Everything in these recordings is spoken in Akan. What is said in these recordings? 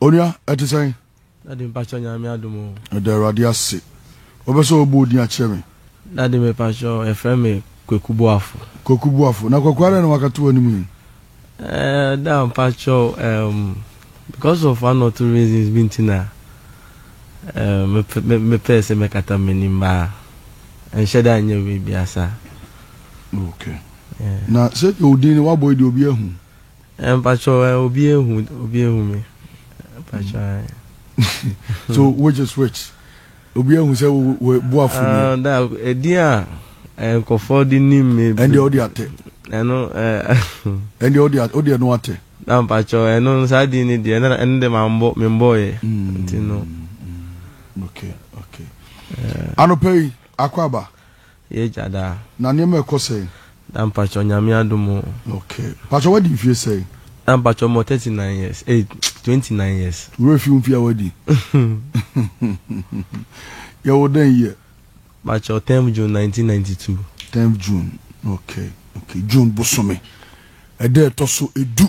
onua ɛte sɛn ɛde mpakyɛ nyame adomo ɛda awurade ase wobɛ sɛ wɔbɔ odin akyerɛ me Daddy me pakyɛw yɛfrɛ me Kweku Boafo. Kweku Boafo, na Kweku adɛn na wakata w'anim yi? Eh, da mpakyɛw um, because of one or two reasons bi nti na um, mepɛɛ sɛ mɛkata m'anim baa ɛnhyɛ da nyɛ wei biasa. Okay. Yeah. Na sɛ deɛ odin no wabɔ yi deɛ obi ahu? Eh, mpakyɛw eh, obi ahu obi ahu me mpakyɛw. so which is which? Obi ahu sɛ wo wo boafo nie. Ah da edin a eh, nkɔfoɔ de nim me. Ɛndeɛ ɔde atɛ. Ɛno eh. Ɛndeɛ ɔde atɛ ɔde ɛno atɛ. Na mpakyɛw ɛno no saa din no deɛ ɛno ɛno de ma mbɔ me mbɔɔyɛ nti no. Okay okay. Anɔpa yi akɔ aba. Yɛ agya daa. Na nneɛma ɛkɔ sɛn? Daa mpakyɛw, Nyame adom o. Okay. Mpakyɛw w'adi mfie sɛn? Daa mpakyɛw mewɔ thirty nine years, eh, twenty nine years. Wo werɛ fi wo mfie a w'adi? Yɛ wo dɛn year? Mpakyɛw tenth June nineteen ninety two. Tenth June, okay, okay, June bosome ɛda ɛtɔ so edu.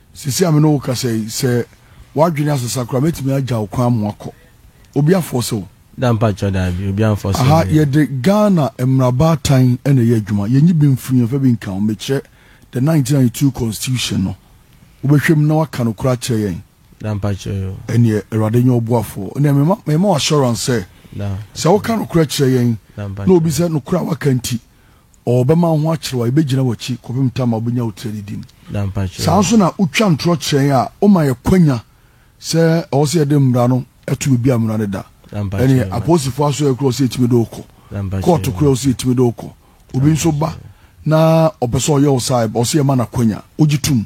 Seesei a me ne wo rekasa yi, sɛ w'adwene asesa koraa a, mɛtumi agya wo kwan ama woakɔ. Obi afɔɔse wo? Da mpakyɛw, daabi, obi amfɔɔse me. Aha, yɛde Ghana mmarabaatan na ɛyɛ adwuma. Yɛnyi bi mfiri, yɛmfa bi nka ho. Mekyerɛ the 1992 Constitution no. Wobɛhwɛ mu na woaka no koraa akyerɛ yɛn? Da mpakyɛw o. Ɛnneɛ, Awurade nyɛ ɔboafoɔ. Ɛnneɛ, mema, mema wo assurance sɛ, sɛ woka nokorɛ kyerɛ yɛn, na obi sɛ, nokorɛ a woaka nti, ɔɔbɛma ho akyerɛ wo a, yɛbɛgyina w'akyi kɔpem tam a wobɛnya wo tira didim. Saa nso na wotwa ntorɔ kyerɛ yɛn a, woma yɛ kwanya sɛ ɛwɔ sɛ yɛde mmara no to baabi a mmara no da. Ɛne apolisifoɔ asoɛeɛ korɔ wɔ sɛ yɛtumi de wo kɔ. Kɔɔto korɔ wɔ sɛ yɛtumi de wo kɔ. Obi nso ba na ɔpɛ sɛ ɔyɛ wo saa a, ɛwɔ sɛ yɛma no akwanya. Wogye tom?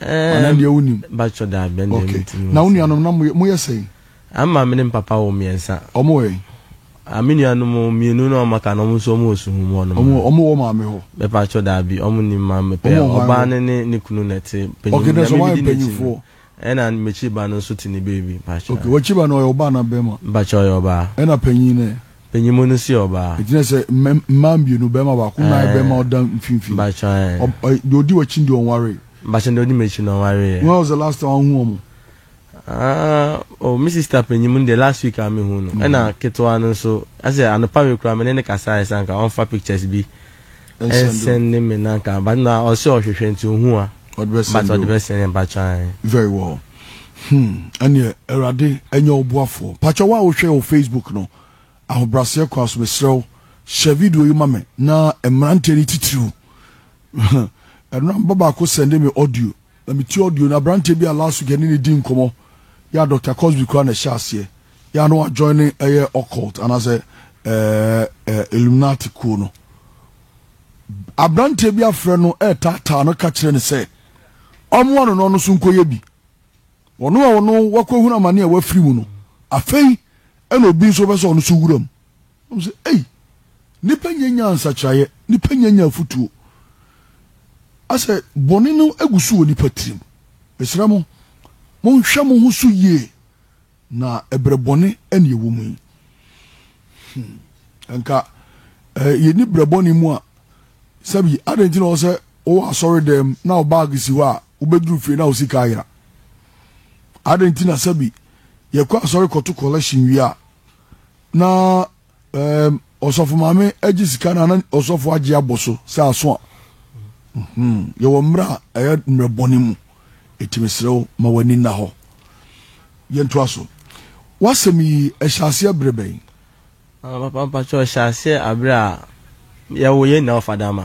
Ɛɛ, bakyɛ daabi ɛnna ɛmu ti mu. Na wo nuanom na mo yɛ sɛn? Ama me ne papa wɔ mmiɛnsa. Ɔmo wɔ yɛn. Ame nuanom mmienu na ɔmo aka na ɔmo nso ɔmo wɔ suhu mu ɔnom. Ɔmo ɔmo wɔ maame hɔ. Bɛpa akyɛ daabi ɔmo ni maame pɛ. Ɔbaa ne ne ne kunu na ɛte. Okay, na sɛ wɔn ayɛ mpanyinfoɔ. Ɛna mekyi ba no nso te ne beebi. Okay, wɔkyi ba no ɔyɛ ɔbaa na bɛma. Bakyɛ ɔyɛ ɔbaa. Ɛna panyin nɛ. Panyimu no sie ɔbaa. Ɛgyina sɛ mmaa mmienu, barima baako nan bɛma ɔda mfimfini. Mpakyɛ ɛ. Deɛ ɔdi w'akyi no deɛ ɔnwaree. Mpakyɛ deɛ ɔdi m'akyi no ɔnwareeɛ. When was the last time wohu wɔn? Ah oh me sister panyimu no deɛ last week a mehu no. Ɛna ketewa no nso ɛsɛ anopa wei koraa me ne no kasaeɛ sɛ anka ɔmfa pictures bi Ɛnsɛn ne me na nka but na ɔse ɔhwehwɛ nti ohu a Ɔde bɛ sɛn but ɔde bɛ sɛn ɛba kyan. Very well hmm ɛneɛ awurade ɛnyɛ wo boafoɔ pakyɛ wo a wo hwɛ wɔ Facebook no ahobraseɛ kwan so mesrɛ wo hyɛ video yi ma me na mmeranteɛ no titiriw ɛno na meba baako sɛnde me audio. Na metie audio no, aberanteɛ bi a last week yɛne no dii nkɔmmɔ, yɛ a Doctor Cosby koraa na ɛhyɛ aseɛ, yɛ a na wajoine ɛyɛ occult anaasɛ ɛɛ ɛɛ Illuminati kuo no. Aberanteɛ bi afrɛ no ɛɛtaataa no ka kyerɛ no sɛ ɔmmoa no na ɔno nso nkɔyɛ bi. Ɔno a ɔno wakɔhunu amane a wafiri mu no, afei ɛna obi nso bɛ sɛ ɔno nso wura mu. Wɔn sɛ, ei, nnipa nyɛ nya nsakyeraeɛ, nnipa nyɛ nya afutuo. Asɛ bɔne no gu so wɔ nnipa tirim. Mesrɛ mo, monhwɛ mo ho so yie, na ɛbrɛ bɔne ɛne ɛwɔ mu yi. Hmm. Nka eh, yɛni brɛ bɔne mu a, sɛbi adɛn nti na ɔwɔ sɛ wowɔ asɔre dɛm na wo baage si hɔ a wobɛduru fie na wo sika ayera? Adɛn nti na sɛbi yɛkɔ asɔre kɔto collection wie a na ɛɛm ɔsɔfo maame agye sika na na ɔsɔfo agye abɔ so sɛ aso a mhm, yɛwɔ mmerɛ a ɛyɛ mmerɛ bɔne mu ɛti mesrɛ wo ma w'ani nna hɔ yɛntoa so w'asɛm yi ɛhyɛ aseɛ berɛ bɛn? Ah, papa mpakyɛ ɔhyɛ aseɛ aberɛ a yɛwo yɛn nyinaa wɔ fadama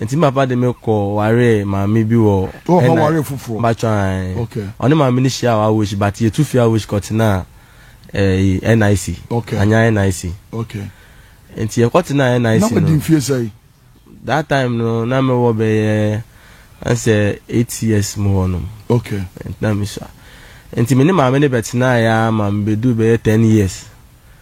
Nti me papa de me kɔ waree maame bi wɔ. Wɔ hɔ waree foforɔ. Batwa ɛɛ. Okay. Ɔne maame no hyia wɔ Awosh but yɛtu fi Awosh kɔtenaa ɛɛ NIC. Okay. Anya NIC. Okay. Nti yɛkɔtenaa NIC no. Na wadi mfie sɛn? That time no na me wɔ bɛyɛ ɛnsɛ eight years mu hɔ nom. Okay. Nti na me sua. Nti me ne maame no bɛtenaa ya ma me bɛdu bɛyɛ ten years.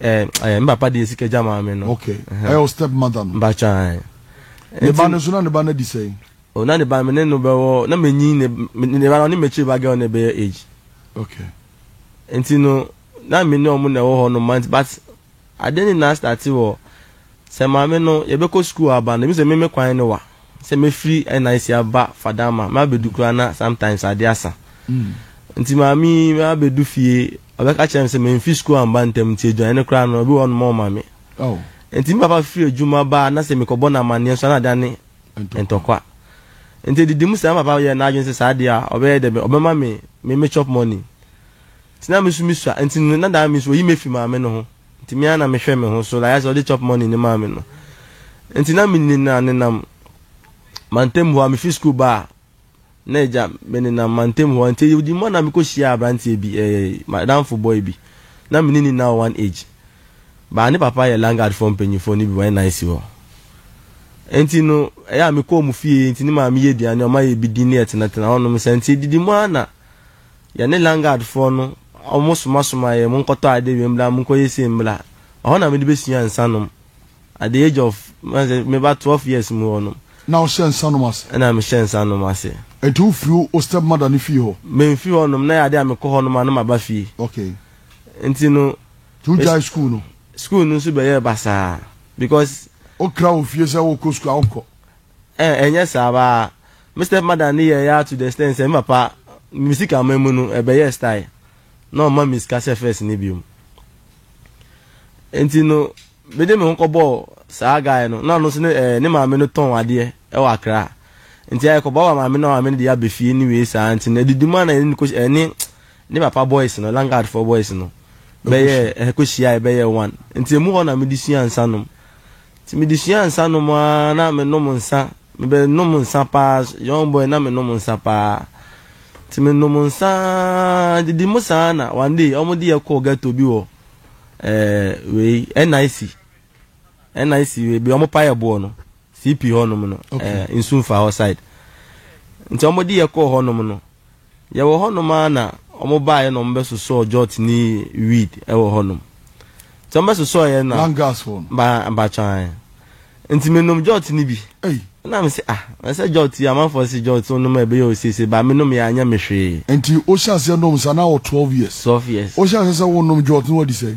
Eh, eh, papa de sika gya maa me no. Okay. Ɛyɛ eh, o step mother no. Mbacha. Eh. Ne ba no so na ne ba no di sɛn. O oh, na ne ba me ne no bɛwɔ na menyi ne ne ba no ne m'akyiri ba girl ne bɛyɛ age. Okay. Nti no na me ne ɔmo na ɛwɔ hɔ no month but ade ne na start wɔ Sɛ Maame no, yɛbɛkɔ sukuu a aba no, ebi sɛ me me kwan ne wa. Sɛ mɛfiri NIC aba Fadama, mabɛdu koraa na sometimes adeɛ asa. Nti Maame yi, mabɛdu fie, ɔbɛka kyerɛ me sɛ mamfiri sukuu amba ntɛm nti aduane no koraa no, ebi wɔ hɔ nom a ɔmma me. Nti me papa firi adwuma ba a, na sɛ mekɔbɔ no amanneɛ nso a na adane ntɔkwa. Nti ɛdidi mu saa, me papa yɛɛ n'adwene sɛ saa deɛ a, ɔbɛyɛ dɛ bɛn, ɔbɛma me me chop money. Nti na me nso mesua, nti no na daa me nso, ɔyi me firi Maame no ho. Nti me ara na mehwɛ me ho so like ayɛsɛ ɔde chop money no maa me no nti na me nina nenam mantam hɔ a mefi school ba a na agya me nenam mantam hɔ nti yɛdi mmɔ na mekɔ hyia abranteɛ bi ɛɛ eh, madamfo boy bi na me ne nina wɔ one age baa ne papa yɛ langard fɔ mpanyinfoɔ no bi wɔn nan si hɔ nti no ɛyɛ a mekɔ wɔn fie nti ne maame yɛ aduane ɔma yɛ bi di ne yɛtenatena hɔnom sɛ nti didi mmɔ ara na Yɛne Lingard foɔ no ɔmo soma somaa yɛn monkɔtɔ adeɛ wei mbra monkɔyɛ sei mbra ɛhɔ na mede bɛsua nsa nom at the age of mɛka sɛ meba twelve years mu hɔ nom. Na wo hyɛ nsa nom ase? Ɛna me hyɛ nsa nom ase. Nti wo firi wo step mother no fie hɔ? Me nfiri hɔ nom na ɛyɛ adeɛ a me kɔ hɔ nom a na ma ba fie. Okay. Nti no. Nti wo gyae school no? School no nso bɛyɛɛ basaa because. Wo kra wɔ fie sɛ wo kɔ school a wo nkɔ? Ɛɛ ɛnyɛ saa baa. Me stepmother ne yɛɛ yaa to the extent sɛ me papa me sika ama mu no ɛbɛyɛɛ style na ɔmma me sika sɛ first no biom. Nti no me de me ho kɔbɔɔ saa guy no na ɔno nso ne ɛɛ ne maame no tɔn adeɛ ɛwɔ Accra. Nti ayɛ kɔbɔɔ ama maame no na maame no de aba fie ne wei saa nti no adidi mu a na yɛne no ɛne ne papa boys no Langard foɔ boys no bɛyɛɛ ɛhɛ kɔhyiaeɛ bɛyɛɛ one. Nti ɛmu hɔ na me de suaa nsa nom. Nti me de suaa nsa nom aa na me nom nsa. Me bɛ nom nsa paa young boy na me nom nsa paa ti me nom nsa didi mo saa na one day ɔmo de yɛ kɔɔ ghetto bi wɔ ɛɛ wei NIC NIC wei bi ɔmo pa yɛ boɔ no CP hɔ nom no ɛɛ nsu nfa hɔ side nti ɔmo de yɛ kɔɔ hɔ nom no. Yɛwɔ hɔnom ara na wɔbaeɛ na wɔbɛsosɔɔ Jot ne Weed wɔ hɔnom. Nti wɔbɛsosɔeɛ no na. Langas hɔ no. Ba, mpakyɛw ae. Nti menom Jot no bi. Ei. Ɛna mese, ah, na sɛ Jot yi, amanfoɔ se Jot wonom a ɛbɛyɛ wo seesei, but menomeeɛ a anyɛ me hwee. Nti wohyɛ aseɛ nom saa, na wowɔ twelve years. Twelve years. Wohyɛ aseɛ sɛ wonom Jot no, wadi sɛn?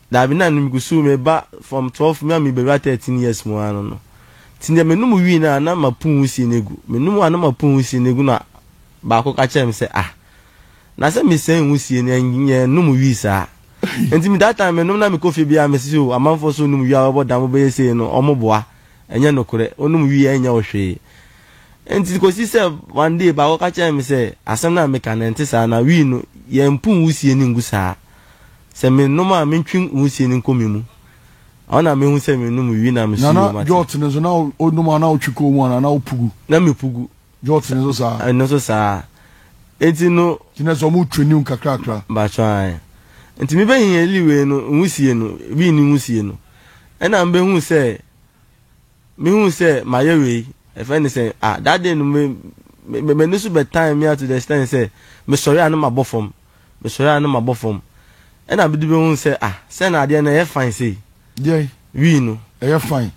Daabi na no mukusuu meba form twelve me a mebewura thirteen years mu ara no no nti deɛ menum wii no a na mapuu wusie no agu menum a na mapuu wusie no agu na baako ka kyerɛɛ me sɛ ah na sɛ mesɛn wusie no ɛnyɛ num wii saa nti that time menum na mekɔ fie biara mese o amanfoɔ sɛ onum wii a wɔbɔ dam wobɛyɛ sei no wɔn boa ɛnyɛ nokorɛ onum wii a ɛnyɛ wo hwee nti kɔsi sɛ one day baako ka kyerɛɛ me sɛ asɛm no a meka no ɛnte saa na wii no yɛmpuu wusie no ngu saa Sɛ me nom a me ntwe nwusie no nkɔ me mu, ɔna me hu sɛ me nom wi na me so yio mate. Jot no nso na o nom a na o twe kɔ mu ana na o pugu. Na me pugu. Jot no nso saa. Ɛno nso saa. Eti no. Ti na sɛ ɔmo twe new kakrakra. Bakyɛ ae. Nti me bɛ hiɛ li wei no nwusie no wi ni nwusie no ɛna me bɛ hu sɛ me hu sɛ ma yɛ wei ɛfɛ ne sɛ ah that day no me me me ne so bɛ tan me ato the extent sɛ me sɔre a ne ma bɔ fam Mesɔre a na mabɔ fam. Ɛna bede bi ohun sɛ ah sɛ na adeɛ no ɛyɛ fine sei. Deɛn? Wii no. Ɛyɛ fine.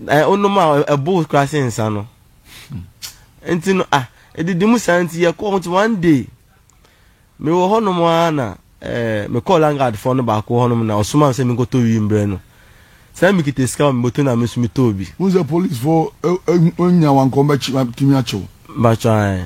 Ɛɛ onom a ɛbo koraa sen nsa no. Nti no ah edidi mu saa nti yɛkɔ hɔ nti one day mewɔ hɔ nom ara na ɛɛ mekɔɔ landguard foɔ no baako hɔ nom na ɔsoma me sɛ menkɔtɔ wii mbrɛ no. Sɛ na mekita sika wɔ me bɔtɔ na me nso metɔɔ bi. Wohu sɛ police foɔ nya wo anka wɔbɛtumi akye wo. Mpakyɛw ae.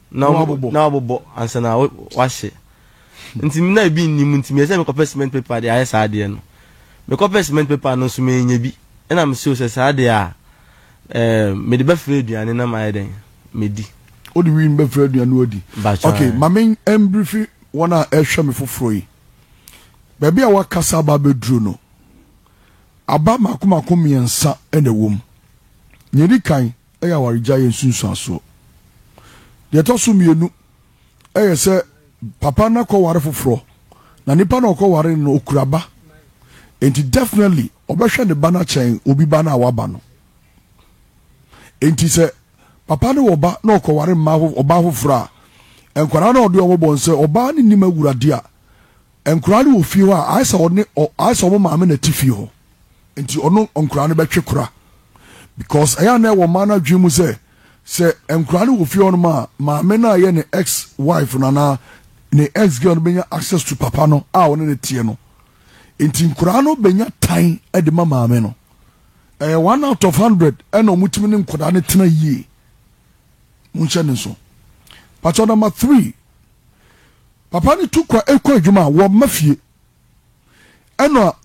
na wɔabobɔ ansa na wɔahye. Nti na ebi nni mu nti meyɛɛ sɛ mekɔpɛ cement paper de ayɛ saa adeɛ no. Mekɔpɛ cement paper no nso mannya bi. Ɛnna mesuro sɛ saa deɛ a, mede bɛfra aduane na mayɛ dɛn? Madi. Wode wim bɛfra aduane na woadi. Ok, ma membrifi wɔn a ɛrehwɛ me foforɔ yi. Baabi a woakasa aba abɛduru no, aba mmaako mmaako mmiɛnsa na ɛwom. Nea ɛdi kan, yɛ awaregyae yɛ nsunsuansoɔ. Deɛ ɛtɔ so mmienu yɛ sɛ papa no akɔware foforɔ na nipa no a ɔkɔware no no ɔkura ba nti definitely ɔbɛhwɛ ne ba no akyɛn obi ba no a waba no. Nti sɛ papa no wɔ ba na ɔkɔware mmaa ɔbaa foforɔ a nkwadaa no a ɔde wɔn bɔ no sɛ ɔbaa no nnim awurade a Nkwadaa no wɔ fie hɔ a, ayɛ sɛ ɔne ɔ ayɛ sɛ wɔn maame na ɛte fie hɔ. Nti ɔno nkwadaa no bɛtwe kora. Because ɛyɛ a na ɛwɔ mmaa no adwene mu sɛ, sɛ nkwadaa no wɔ fie hɔnom a, maame no a ɛyɛ ne ex wife no anaa ne ex girl no bɛnya access to papa no a ɔne no teɛ no. Nti nkwadaa no bɛnya tan de ma maame no. Ɛyɛ one out of hundred ɛna wɔtumi ne nkwadaa no tena yie. Monhyɛ no nso. Pakyɛ number three. Papa no tu kɔ kɔ adwuma a, wɔmma fie. Ɛna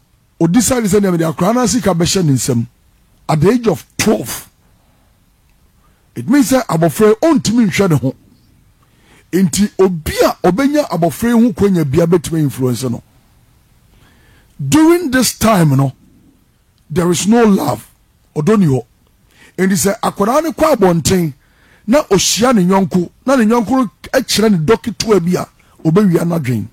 o decide sɛ nea mede akwaraa no asika bɛhyɛ ne nsam at the age of twelve. It means sɛ abɔfra yi ɔntumi nhwɛ ne ho. Nti obi a ɔbɛnya abɔfra yi ho kwanya bia bɛtumi influence no. During this time no, There is no love, ɔdɔ nni hɔ. Enti sɛ akwadaa no kɔ abɔnten na ɔhyia ne yɔnko na ne yɔnko no kyerɛ no dɔ ketewa bi a, ɔbɛwia n'adwene.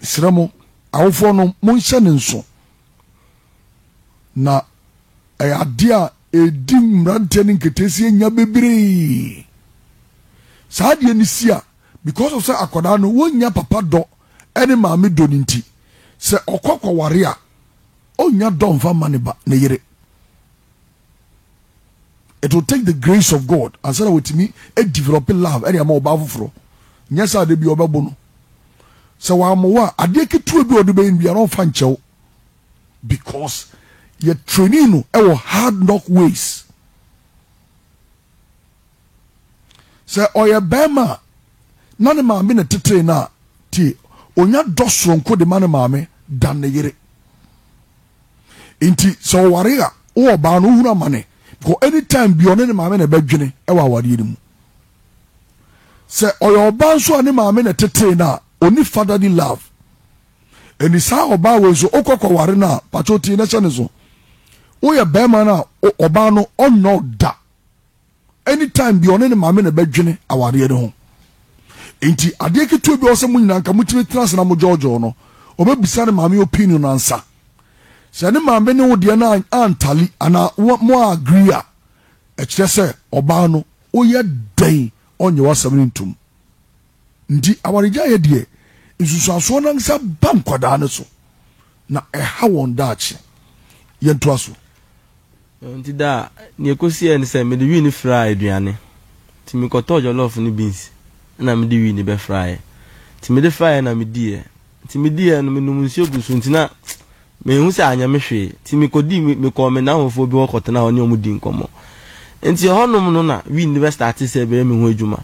Mesrɛ mo, awofoɔ no, monhyɛ no nso. Na ɛyɛ adeɛ a ɛdi mmeranteɛ no nketeesie nya bebree. Saa adeɛ no si a, because of sɛ akwadaa no, wɔnnya papa dɔ ne maame dɔ no nti, sɛ ɔkɔ kɔware a, ɔnnya dɔ mfa mma ne ba, ne yere. It will take the grace of God ansa na wɔtumi develop love ɛde ama ɔbaa foforɔ. Nyɛ sɛ ade bi ɔbɛbo no. Sɛ wɔammoa a, adeɛ ketewa bi a ɔde bɛyɛ nnuane ɔmfa nkyɛw because yɛ training no ɛwɔ hard knock ways. Sɛ ɔyɛ bɛrima a, na ne maame na ɛtetee no a, tie, ɔnya dɔ soronko de ma ne maame dan ne yere. Nti sɛ ɔware a, wo ɔbaa no wohunu amane because anytime bi ɔne ne maame na ɛbɛdwene wɔ awadeɛ no mu. Sɛ ɔyɛ ɔbaa nso a ne maame na ɛtetee no a, ɔni fatherly love. Ɛni saa ɔbaa wei nso wokɔ kɔware no a, pakyɛ tie na hyɛ ne so. Woyɛ bɛrima no a, ɔbaa no ɔnnɔ da. any time bia ɔne ne maame na ɛbɛdwene awareɛ no ho nti adeɛ ketewa bi a ɔsɛ mo nyinaa nka motumi tena ase na mo gyɔɔgyɔɔ no ɔbɛbisa ne maame opinion no ansa sɛ ne maame ne wo deɛ no antali anaa mo a agree a ɛkyerɛ sɛ ɔbaa no woyɛ dɛn ɔnyɛ w'asɛm no ntom Nti awaregyaeɛ deɛ, nsunsuansoɔ no ankasa ba nkwadaa no so, na ɛha wɔn daakye. Yɛntoa so. Nti daa, deɛ ɛkɔsiiɛ ne sɛ mede wii no firaa aduane. Nti mekɔtɔɔ jɔlɔɔfo ne beans na mede wii no bɛfraaeɛ. Nti mede fraaeɛ na mediiɛ. Nti mediiɛ no, menom nsuo guu so nti na menhu sɛ anyɛ me hwee. Nti mekɔdii, mekɔɔ me nnamfofoɔ bi hɔ kɔtenaa hɔ ne wɔn dii nkɔmmɔ. Nti ɛhɔnom no na wii no bɛstartee sɛ ɛbɛyɛ me ho adwuma.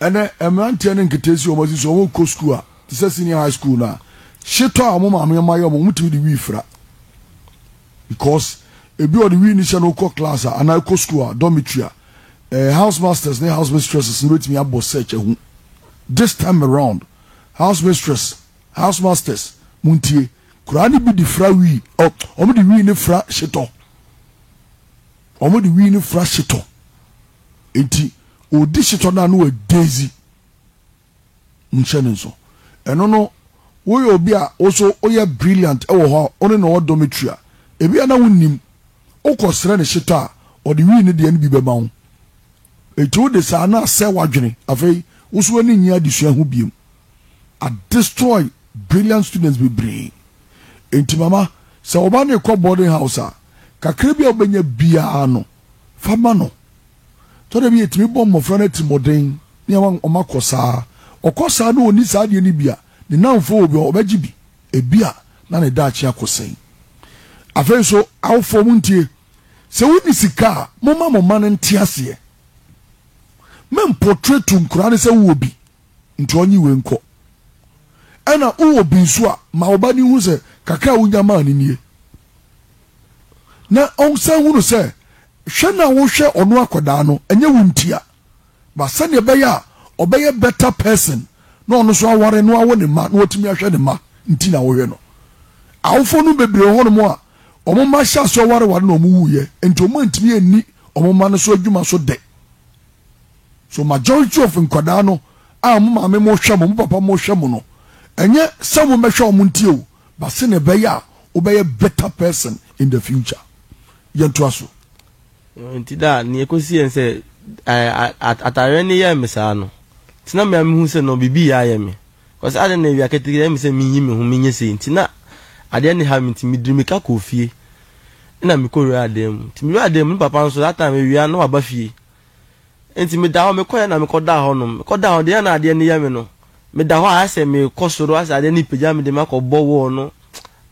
Ɛnɛ mmeranteɛ ne nketeesi wɔn asi so wɔn kɔ sukuu a te sɛ senior high school no a hyetɔ a wɔn maame ma yɛ wɔn wɔn tumi de wii fira because ebi a ɔde wii ne hyɛ no kɔ class a anaa kɔ sukuu a dormitory a eh, house masters ne house mistresses no betumi abɔ search ahu this time around house mistress house masters mo ntie koraa ne bi de fira wii ɔ wɔn de wii ne fira hyetɔ wɔn de wii ne fira hyetɔ. Enti ɔdi setɔ no a na wagya edzi. Monhyɛ no nso. Ɛno no, woyɛ obi a wo nso woyɛ brilliant wɔ hɔ a, wo ne no wɔ dormitory a, ebia na wonnim. Wokɔsrɛ no setɔ a, ɔde wii ne deɛ no bi bɛma wo. Enti wode saa no asɛe w'adwene. Afei, wo nso w'ani nnye adesua ho bio. Adestroy brilliant students bebree. Enti mama, sɛ wo ba no rekɔ boarding house a, kakra bi a wobɛnya biara no, fa ma no. Ɛtɔ da bi a ɛtumi bɔ mmɔfra no atirimmɔden ne ama wɔakɔ saa. Ɔkɔ saa na ɔnni saa adeɛ no bi a, ne nnamfoɔ wɔ bi a wɔbɛgye bi. Ebia na ne daakye akɔsɛe. Afei nso, awofoɔ montie, sɛ wonni sika a, momma mo mma no nte aseɛ. Mempɔtretu nkwadaa no sɛ wowɔ bi nti ɔnye wei nkɔ. Ɛna wowɔ bi nso a, ma wo ba no nhu sɛ kakra a wonya maa no nie. na ɔnsan hunu sɛ hwɛ no a wohwɛ ɔno akwadaa no ɛnyɛ wo ntia ba sɛdeɛ ɛbɛyɛ a ɔbɛyɛ better person na ɔno nso aware na wawo ne mma na watumi ahwɛ ne mma nti na wohwɛ no awofoɔ no bebree hɔ nom a wɔn mma hyɛ aseɛ ɔwareware na wɔn wuyɛ nti wɔn antumi anni wɔn mma no so adwuma so dɛ so majority of nkwadaa no a mo maame mo hwɛ mo mo papa mo hwɛ mo no ɛnyɛ sɛ wɔn bɛhwɛ wɔn ntie o but se na ɛbɛyɛ a wobɛyɛ better person in the future. Yɛntoa so. Nti da a, nea ɛkɔsi yɛn sɛ atareɛ no yɛɛ me saa no, nti na me a mehu sɛ no biribi yɛ ayɛ me. Kɔsɛ adɛn na awia ketekete ɛyɛ me sɛ menyi me ho menyɛ sei nti na adeɛ no ha me nti mediri meka kɔɔ fie na mekɔwuraa dan mu. Nti mewuraa dan mu, ne papa nso that time awia na waba fie. Enti meda hɔ, mekɔeɛ na mekɔdaa hɔnom. Mekɔdaa hɔ, deɛ na adeɛ no yɛ me no, meda hɔ a ayɛ sɛ merekɔ soro, ayɛ sɛ adeɛ no repagya me de me akɔbɔ wall no,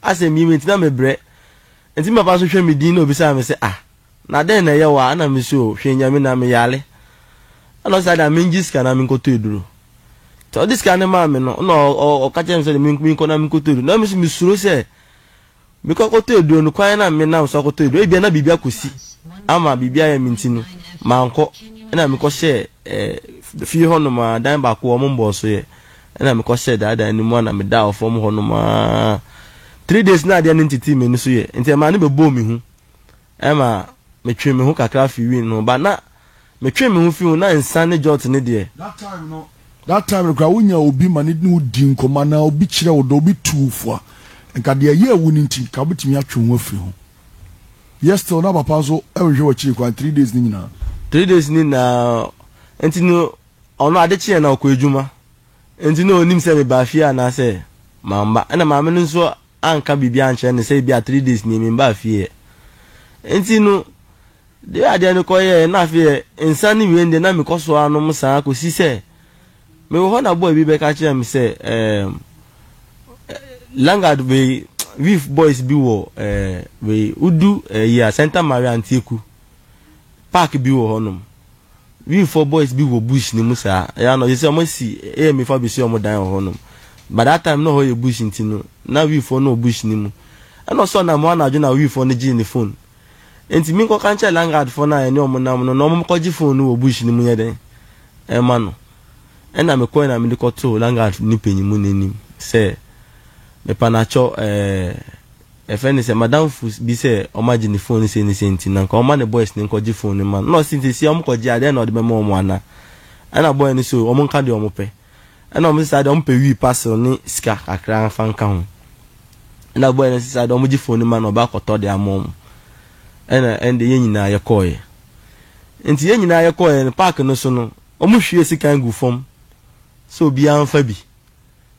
ayɛ sɛ meyɛ me nti na mebrɛ. Enti me papa nso hwɛ me din na obisaa me sɛ, ah, na dɛn na ɛyɛ wo a? Ɛna mese, oh, hwɛ Nyame na meyare. Ɛna ɔse, saa deɛ a mengye sika na menkɔtɔ aduro. Nti ɔde sika no maa me no, na ɔka kyerɛɛ me sɛ deɛ menkɔ na menkɔtɔ aduro. Na me nso mesuro sɛ, Mekɔ akɔtɔ aduro no, kwan no a menam so akɔtɔ aduro no, ebia na biribi akɔsi ama biribi ayɛ me nti no, mankɔ. Ɛnna mekɔhyɛɛ eh, fie hɔnom ara, dan baako a wɔmmɔɔ so yɛ. Ɛnna mekɔhyɛɛ daa dan no mu ara na medaa fam hɔnom ara. Three days na adeɛ no ntetee m'ani so yɛ, nti ɛmaa no bɛbɔɔ me hu. Ɛma metwee me ho kakra fii Win ho but na metwee me ho fii ho na nsa ne jot ne deɛ. That time no that time no koraa wonya obi ma ne ne wo di nkɔmmɔ anaa obi kyerɛ wo dɔ obi tu wo fo a nka deɛ ɛyɛɛ wo no nti nka wobɛtumi atwe wo ho afiri ho. Yet still na papa nso nhwɛ w'akyiri kwan three days no nyinaa. Three days no nyinaa nti no ɔno ade kyeeɛ na ɔkɔ adwuma nti na ɔnnim sɛ mebaa fie anaasɛ mamma ɛna maame no nso anka biribi ankyerɛ no sɛ ebia three days nie memmba fie ɛ. Nti no deɛ adeɛ no kɔ yɛɛ na afei ɛ nsa ne wien deɛ na mekɔ so ara nom saa kɔsi sɛ mewɔ hɔ na boy bi bɛka kyerɛɛ me sɛ ɛɛm ɛ Langard wei Weave boys bi wɔ ɛɛ wei wodu ɛyi a Santa Maria Antieku park bi wɔ hɔnom. Wifɔ boys bi wɔ bush no mu saa, ɛyɛ a na ɔyɛ sɛ ɔmo asi AMA fo abesi ɔmo dan wɔ hɔ nom. But that time na hɔ yɛ bush nti no, na wifɔ no wɔ bush no mu. Ɛna ɔsɔɔ nam hɔ anadwo na wifɔ no gyee ne phone. Enti me nkɔka nkyerɛ landguard fɔ no a yɛne ɔmo nam no na ɔmo kɔgye phone no wɔ bush no mu nyɛ dɛn ɛma no. Ɛna me kɔe na mede kɔtoo landguard no panyin mu no anim sɛ, Mepanakyɔ ɛɛ, Yɛfrɛ no sɛ madamfo bi sɛ ɔmagye ne phone ne sei ne sei nti na nka ɔmma ne boys no nkɔgye phone no mma no. Ɛna ɔse seesei ɔmo kɔgye a dɛn na ɔde bɛma ɔmo ana? Ɛna boy no se oh ɔmo nka deɛ ɔmo pɛ. Ɛna ɔmo se saa deɛ ɔmo pɛ wii parcel ne sika kakra fa nka ho. Ɛna boy no se saa deɛ ɔmo gye phone no ma no na ɔba akɔtɔ de ama ɔmo. Ɛna ɛnde yɛn nyinaa yɛkɔɔɛ. Nti yɛn nyinaa yɛkɔɔɛ no park no so no ɔmo hwie sika gu fam sɛ obiara nfa bi.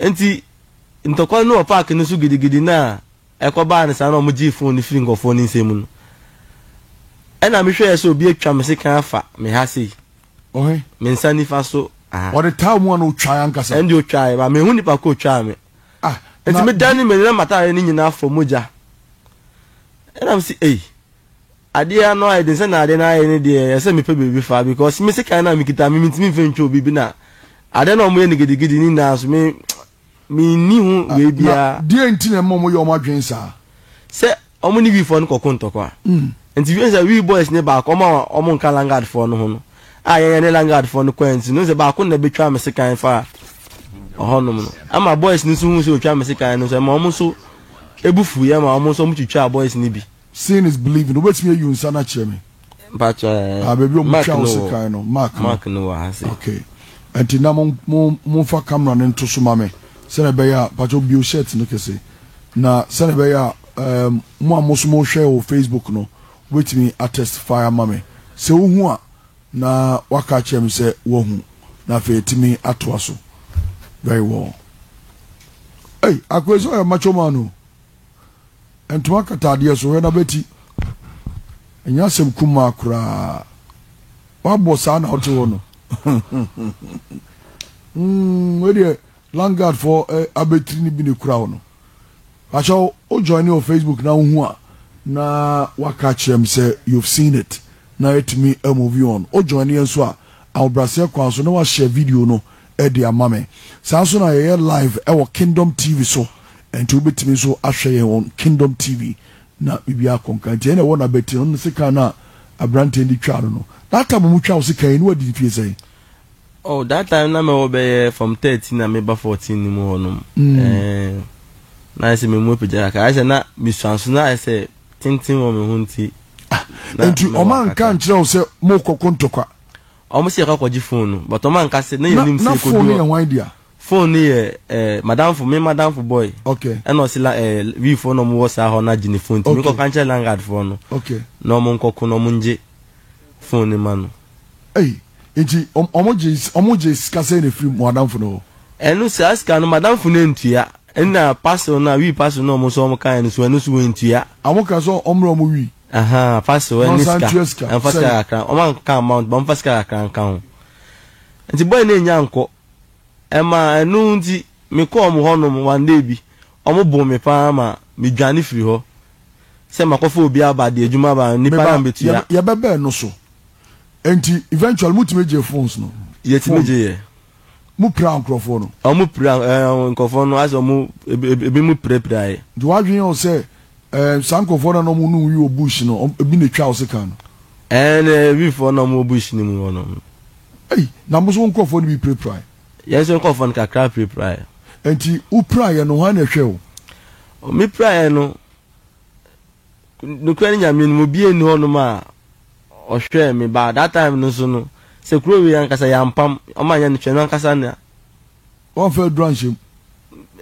Enti ntɔkwa no wɔ park no so gidigidi no a ɛkɔbaa no saa na wɔgyee fon no firii nkurɔfoɔ no nsam no, ɛnna mehwɛeɛ sɛ obi atwa me sekan afa me ha sei, me nsa nifa so ha. Ɔde taa mu anaa ɔtwaeɛ ankasa? Ɛnde ɔtwaeɛ ba menhu nipa ko a ɔtwaa me. Enti medanee m'ani na m'ataadeɛ no nyinaa fɔ mogya. Ɛnna mese, Ei! Adeɛ no ayɛ den sɛnea adeɛ no ayɛ no deɛ ɛsɛ mepɛ baabi fa because me sekan no a mekita me mentumi mfa ntwa obi bi na adeɛ no a wɔyɛ no gidigidi ne nyinaa nso me menni ho wei biara. Na deɛ nti na ɛma wɔyɛ wɔn adwene saa? Sɛ wɔn ne wiifoɔ no kɔko ntɔkwa nti wohu sɛ wii boys no baako wɔn a wɔn nka langard foɔ no ho no a yɛn yɛne langard foɔ no kɔɛ nti no wohu sɛ baako na bɛtwa me sekan fa ɔhɔnom no ama boys no nso hu sɛ ɔtwa me sekan no nso ɛma wɔn nso ɛbu fu yɛ ma wɔn nso wɔn twitwaa boys no bi. Seeing is believing wobɛtumi ayi wo nsa no akyerɛ me. Mpakyɛ ah baabi a wɔtwa wo sekan no mark no mark no wɔ ha se. Okay ɛnti na mo mo momfa camera no nto so ma me sɛnea ɛbɛyɛ a mpakyɛ wobio shirt no kɛse na sɛnea ɛbɛyɛ a ɛɛm mo a mo nso mohwɛ wɔ Facebook no wobɛtumi atestify ama me sɛ wohu a na waka akyerɛ me sɛ woahu na afei atumi atoa so very well. Ei akwesi ɔyɛ macho man o. ntoma katadeɛ so hwɛ n'abati. Ɛnyɛ asɛm kumaa koraa. Wabɔ saa na wote hɔ no. mm, wei deɛ Langard fɔ eh, abɛtiri no bi ne kura wo no. Ahyɛ wo, wo join wɔ Facebook na wohu a na waka kyerɛ m sɛ you've seen it na ɛtumi move on. Wo join yɛ nso a ahobrɛaseɛ kwan so na wahyɛ video no de ama me. Saa nso na yɛyɛ live wɔ Kingdom TV so, ɛnti wobɛtumi nso ahwɛ yɛn wɔ Kingdom TV na biribiara akɔ nka. Nti ɛnna ɛwɔ Nabɛti no, ne sekan no a aberanteɛ no de twaa no no, that time a wɔtwaa wo sekan yi no wadi mfeɛ sɛn? Oh, that time na mɛwɔ bɛyɛ from thirteen a meba fourteen no mu hɔ nom, ɛɛn, na ayɛ sɛ me mu apagya kakra, ayɛ sɛ na me suanso no ayɛ sɛ tenten wɔ me ho nti, Ah, na ɛnti mɛwɔ ɔma nka kakra. nkyerɛ wo sɛ morekɔko ntɔkwa? Ɔmo se yɛkɔ akɔgye phone no but ɔmo anka se na yɛnim se ekodu hɔ. Na phone no yɛ hwan dea? Phone no yɛ eh madamfo me madamfo boy ɛna ɔse la eh wii foɔ na ɔmo wɔ saa hɔ na agye ne phone nti me kɔ ka nkyerɛ landlord foɔ no na ɔmo nkɔ ko na ɔmo ngye phone no ma no. Ei nti ɔmo gye ɔmo gye sika sɛn na efiri mo adamfo no hɔ? Ɛno saa sika no madamfo no antua ɛna parcel no a wii parcel no a ɔmo se ɔmo kaeɛ no so ɛno so wantua. Ɔmo kaa sɛ ɔmrɛ ɔmo wii? Ahaa pastor wɛ ne sika ɛnfa sika kakra wɔn anka amount bɔ nfa sika kakra nka ho nti boy ne nya nkɔ ɛma ɛnu nti me kɔ wɔn hɔ nom one day bi wɔn bo me paa ma me dwane firi hɔ sɛ ma kɔfa obi aba de adwuma aba nipa na mbetu ya. Yɛbɛbɛɛ no so nti eventual mo tumi gye phones no. Yɛtumi gye yɛ. mo pira nkurɔfoɔ no. Ɔmo pira ɛɛ nkurɔfoɔ no ayɛ sɛ ɔmo ebi mo pirapiraeɛ. Nti w'adwene yɛ wo sɛ ɛɛ saa nkurɔfoɔ no a na ɔmo ne wo yi wɔ bush no ɔmo ebi na etwaa wo sekan no. Ɛɛne ebi foɔ na ɔmo wɔ bush no mu hɔ no. Ei na mo nso wo nkurɔfoɔ no bi pirapiraeɛ. Yɛn nso nkurɔfoɔ no kakra pirapiraeɛ. Nti wo piraeɛ no hwan na ɛhwɛɛ wo? Me piraeɛ no. Nokorɛ Nyame no mu biaa nni hɔ nom a ɔhwɛɛ me baa that time no nso no sɛ kuro wei ankasa yɛampam ɔmo anyɛ no hwɛ no ankasa na Wamfa aduro anhyɛ mu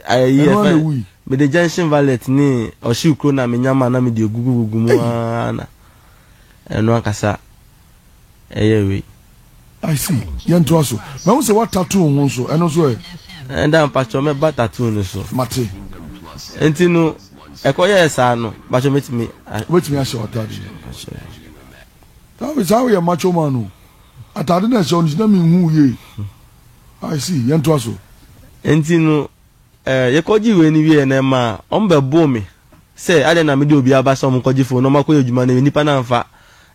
ayi ɛno ara na ɛwui. Mede gentian violet ne ɔhyew kuro no a menya maa na mede agugu gugu mu aa na ɛno ankasa. ɛyɛ wei. I see. Yɛn to aso. Mahu sɛ wa tattoo ho nso. Ɛno nso ɛ. Ɛda mpatsɔ mɛ ba tattoo no so. Mate. Nti no ɛkɔ yɛ saa no mpatsɔ mɛ tumi. Wobɛtumi ahyɛ w'ataade no. Tawe saa woyɛ macho man no. Ataade na ɛhyɛ ɔno gyina mi nhu yie. I see. Yɛn to aso. Nti no Eh, yɛkɔgyee wei no wieeɛ na ɛmaa wɔbɛboo me sɛ adɛn na mede obi aba sɛ wɔnkɔgye phone na wɔakɔyɛ adwuma no, nnipa no amfa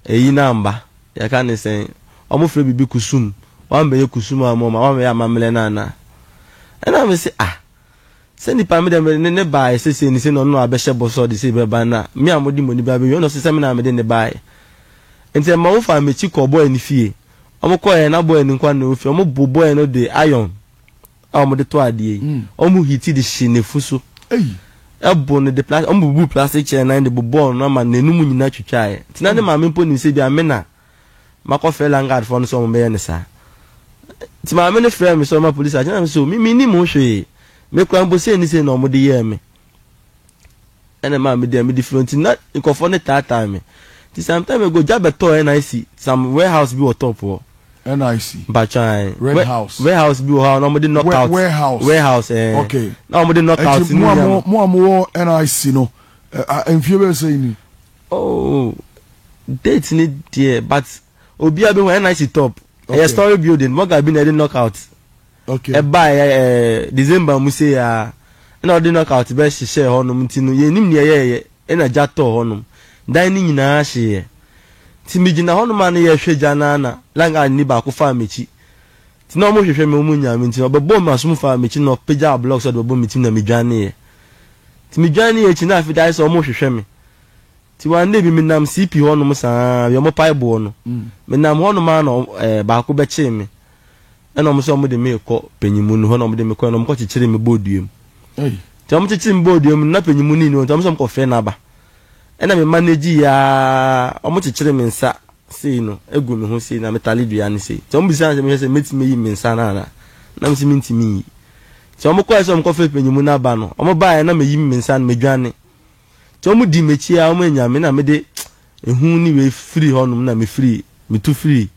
ɛyi no amba, yɛka no sɛn, wɔfrɛ biribi kusum, woambɛyɛ kusum amma wɔn a, woambɛyɛ amammerɛ no anaa? Ɛnna mese, ah, sɛ nnipa me deɛ mede ne ne baeɛ sɛ sei ne sei na ɔno na wabɛhyɛ bɔ sɛ ɔde sei bɛba no a, me a mode mo ani bɛba bɛwie no ɔse sɛ me na mede no baeɛ. Nti ɛmaa wɔfaa m'akyi kɔɔ bɔe no fie, wɔkɔeɛ na bɔe no nkoa na ɛwɔ fie, wɔboo bɔe no de iron, a wɔde tɔ adeɛ yi, wɔn hiti de hyee n'afu so, ɛbo no de plas, wɔn bubuu plastic chair nan de bobɔɔ no ama n'anum nyinaa twitwaeɛ. Nti na ne maame mpo nim sɛ bia me na makɔ frɛ landguard foɔ no sɛ wɔn bɛyɛ no saa. Nti maame no frɛɛ me sɛ ɔma police akyɛ na me sɛ o me me nim ho hwee, me kura mpo sei ne sei na wɔn de yɛɛ me. ɛna maa me deɛ me de firi nti na nkɔfoɔ ne taataa me nti some time ago gya bɛtɔɔ NIC some warehouse bi wɔ top hɔ NIC mpatwan red house warehouse bi wɔ hɔ a na wɔn de knockout warehouse warehouse ɛɛ eh. okay na wɔn de knockout ɛti mu a mo mo a mo wɔ NIC no mfie bɛyɛ sɛ ni. oh date ni deɛ but obiara bi ho NIC top ɛyɛ story building mɔga bi na ɛde knockout. ɛbae ɛɛ December mu sei aa na wɔde knockout bɛ hyehyɛɛ hɔ nom nti no yɛnnim nea yɛɛyɛ ɛna gya tɔɔ hɔ nom dan no nyinaa hyeeɛ nti me gyina hɔ nom aa na yɛɛhwɛ gya no aa na lang ard ni baako faa m'akyi nti na wɔn hwehwɛ me wɔn nyaa me nti ɔbɛbɔɔ me asom faa m'akyi na ɔpagyaa block sɛ ɔde bɛbɔ me tirim na me dwaneeɛ nti me dwaneeɛ akyi na afei de ayɛ sɛ wɔn hwehwɛ me nti one day bi me nam CP hɔ nom saa aa wia wɔn paeboɔ no me nam hɔ nom aa na ɛɛ baako bɛkyee me Ɛna wɔn nso wɔde me rekɔ panyinmu no hɔ na wɔde me kɔɛ na wɔn kɔkyekyere me bɔɔ dua mu. Nti wɔn kyekyere me bɔɔ dua mu no na panyinmu ni ni hɔ nti wɔn nso wɔn kɔfrɛ n'aba. Ɛna me manage yɛ ara wɔn kyekyere me nsa sei no egu me ho sei na me tare dua no sei. Nti wɔn bisaa sɛ mehwɛ sɛ mɛtumi ayi me nsa no anaa na me sɛ mentumi nyi. Nti wɔn kɔɛ sɛ wɔn kɔfrɛ panyinmu no aba no wɔn baeɛ na me yi me nsa no me dwane. Nti wɔn dii m'akyi ara wɔn anya me na mede ehu ne wei firii hɔ nom na me firii me tu firii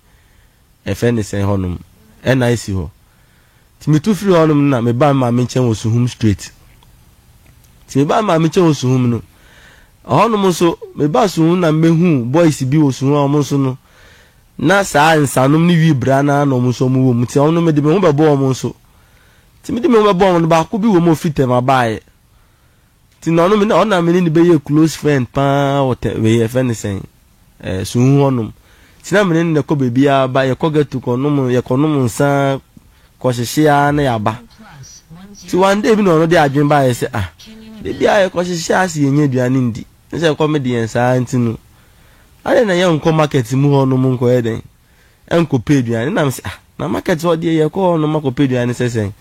Yɛfrɛ no sɛn hɔnom, ɛna esi hɔ. Nti mitu firi hɔnom no na mebaa me maame nkyɛn wɔ Suhum straight. Nti mebaa me maame nkyɛn wɔ Suhum no, ɛhɔnom nso mebaa Suhum na mebehuu boys bi wɔ Suhum a wɔn nso no, na saa nsanom ne wii bra no ara na wɔn nso wɔwɔ mu. Nti wɔn no mede me ho bɛbɔɔ wɔn nso. Nti mede me ho bɛbɔɔ wɔn no, baako bi wɔ mu a ofi Tema baeɛ. Nti na ɔno me na ɔno na me ne no bɛyɛɛ close friend pa ara wɔ tɛ wei yɛfrɛ no sɛn ɛɛ Suhu hɔnom. Nti na me ne no na ɛkɔ baabiara ba, yɛkɔ ghetto kɔnom, yɛkɔnom nsa, kɔhyehye ara na yɛaba. Nti one day bi na ɔno de adwene baeɛ sɛ ah, da biara yɛkɔhyehye ara se yɛnnya aduane ndi, ne sɛ ɛkɔm de yɛn saa ara nti no, adɛn na yɛnkɔ market mu hɔnom nkɔyɛ dɛn? ɛnkɔpɛ aduane ɛna me sɛ ah na market hɔ deɛ yɛkɔ hɔ nom akɔpɛ aduane sɛ sɛn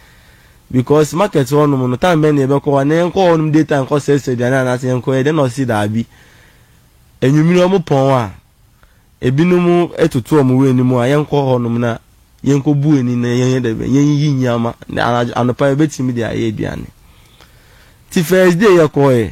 because market hɔ nom no time bɛn na yɛbɛkɔ hɔ na yɛnkɔ hɔ nom day time kɔ sɛsɛ aduane anaasɛ yɛnkɔ yɛ dɛn na ɔsi daabi anwumire ɔmo pɔn a ebinom ɛtoto ɔmo wɔ anim a yɛnkɔ hɔ nom na yɛnkɔ bu ani na yɛnyɛ dɛ bɛn yɛnyiyi nneɛma na anadwo anopa yɛbɛtumi de ayɛ aduane ti first day yɛkɔ yɛ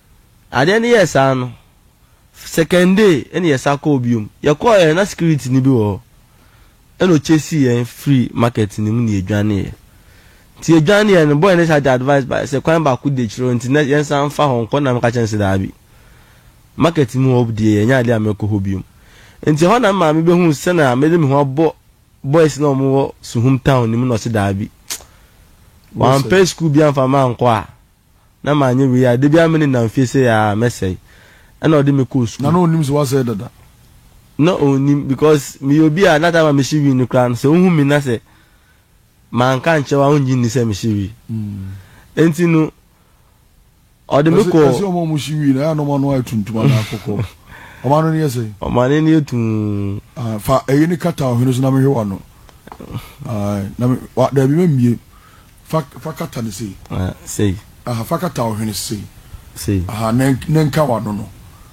Adeɛ no yɛɛ saa no, second day ɛna yɛsan kɔɔ bio. Yɛkɔeɛ no na securiteni bi wɔ hɔ. Ɛna ɔchasee yɛn firii market no mu na yɛdwaneeɛ. Nti yɛdwaneeɛ no, boy no san de advice baeɛ sɛ kwan baako di akyire hɔ nti na yɛnsan mfa hɔ nkɔ na meka kyerɛɛ no sɛ daabi, market no mu hɔ deɛ ɛnyɛ adeɛ a mɛkɔ hɔ bio. Nti ɛhɔ na me maame bɛhuu sɛdeɛ mede me ho abɔ boys no a wɔwɔ Suhum town no mu na ɔse daabi, wampɛ sukuu biara amfa me ankɔ a, na manyɛ wei a, da biara me ne nam fie sei aa, mɛsɛe. Ɛna ɔde me kɔɔ sukuu. Na na ɔnim sɛ woasɛe dada? Na ɔnnim because meyɛ obi a na time a mehye wii no koraa no, sɛ wohu me na sɛ manka ankyerɛ wo a, wongye nni sɛ mehye wii. Enti no, ɔde me kɔɔ. Ɛse wɔn a wɔhye wii no, ɛyɛ a na wɔn ano ayɛ tuntum anaa kɔkɔɔ? Wɔn ano no yɛ sɛn? Wɔn ano no yɛ tumm. Ae, fa ɛyi no kata ɔhwene so na mehwɛ w'ano. Ae, na me, wa, daabi, memmue. Fa, fa kata no sei. Na sei. Aha, fa kata wo hwene sei. Sei. Aha, na, na nka w'ano no.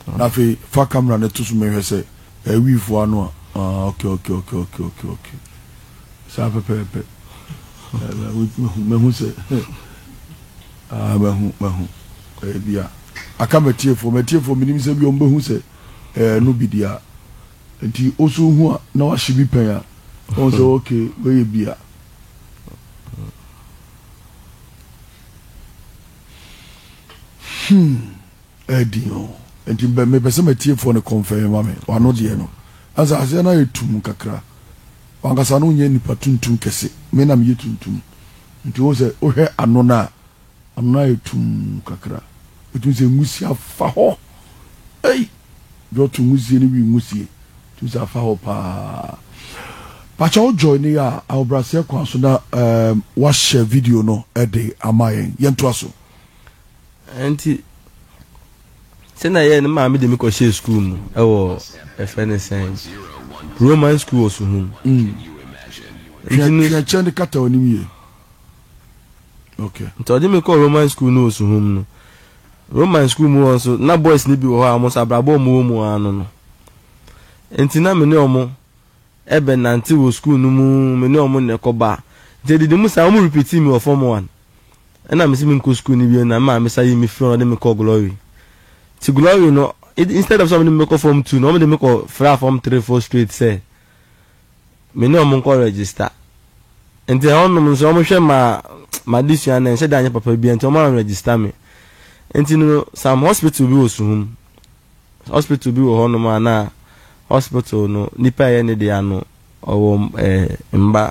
Mm. Na afei, fa kamera no to so mehwɛ sɛ ɛyɛ wiifo ano a. Ah, okay, okay, okay, okay, okay, okay. Saa pɛpɛɛpɛ. Mahu, mahu sɛ, ah, mahu, mahu. Ɛyɛ bi a, aka m'atiefoɔ, m'atiefoɔ menim sɛ bi wɔn bɛhu sɛ ɛyɛ no bi deɛ a. Nti, osu hu a, na wahye bi pɛn a, wɔn sɛ, okay, wei yɛ bi a. Hmm. Ɛdi o. Nti bɛ mepɛ sɛ matiefoɔ no kɔnfɛn ma me. Wano deɛ no. Ansa aseɛ no ayɛ tum kakra. Wankasa no nyɛ nipa tuntum kɛse. Me na meyɛ tuntum. Nti wohu sɛ wohwɛ ano no a Amena ayɛ tumm kakra. Ɛtumi sɛ nwusie afa hɔ. Ei! Dɛ ɔto nwusie no wi nwusie. Ɛtumi sɛ afa hɔ paa. Pakyɛ wo join yɛ a ahobraseɛ kwan so na ɛɛm wahyɛ video no de ama yɛn. Yɛntoa so. Nti sɛnea ɛyɛɛ no maame de me kɔhyɛɛ sukuu mu wɔ yɛfrɛ no sɛn Roman sukuu wɔ Suhum. Nti no. Hwɛ kyɛ no kata w'anim yie. Okay. Nti ɔde me kɔɔ Roman school ne Osuhom no. Roman school mu hɔ nso, na boys no bi wɔ hɔ a wɔn nso abrabɔ a wɔn wɔ mu ara no no. Nti na me ne wɔn ɛbɛnante wɔ school no mu, me ne wɔn na ɛkɔba. Nti ɛdidi mu saa, wɔn repeatii me wɔ form one. Ɛna me se menkɔ school no bio, na me maame sa yii me firi hɔ na ɔde me kɔɔ Glory. Nti Glory no, instead of sɛ wɔde me bɛkɔ form two no, wɔde me kɔ fraa form three, four straight sɛ, me ne wɔn nkɔ register. Nti ɛhɔnom nso wɔhwɛ ma m'adesua no ɛnhyɛ da nyɛ papa biara nti wɔan register me. Nti no some hospital bi wɔ Suhum, hospital bi wɔ hɔnom a na hospital no nipa a ɛyɛ ne deɛ ano ɔwɔ eh, mma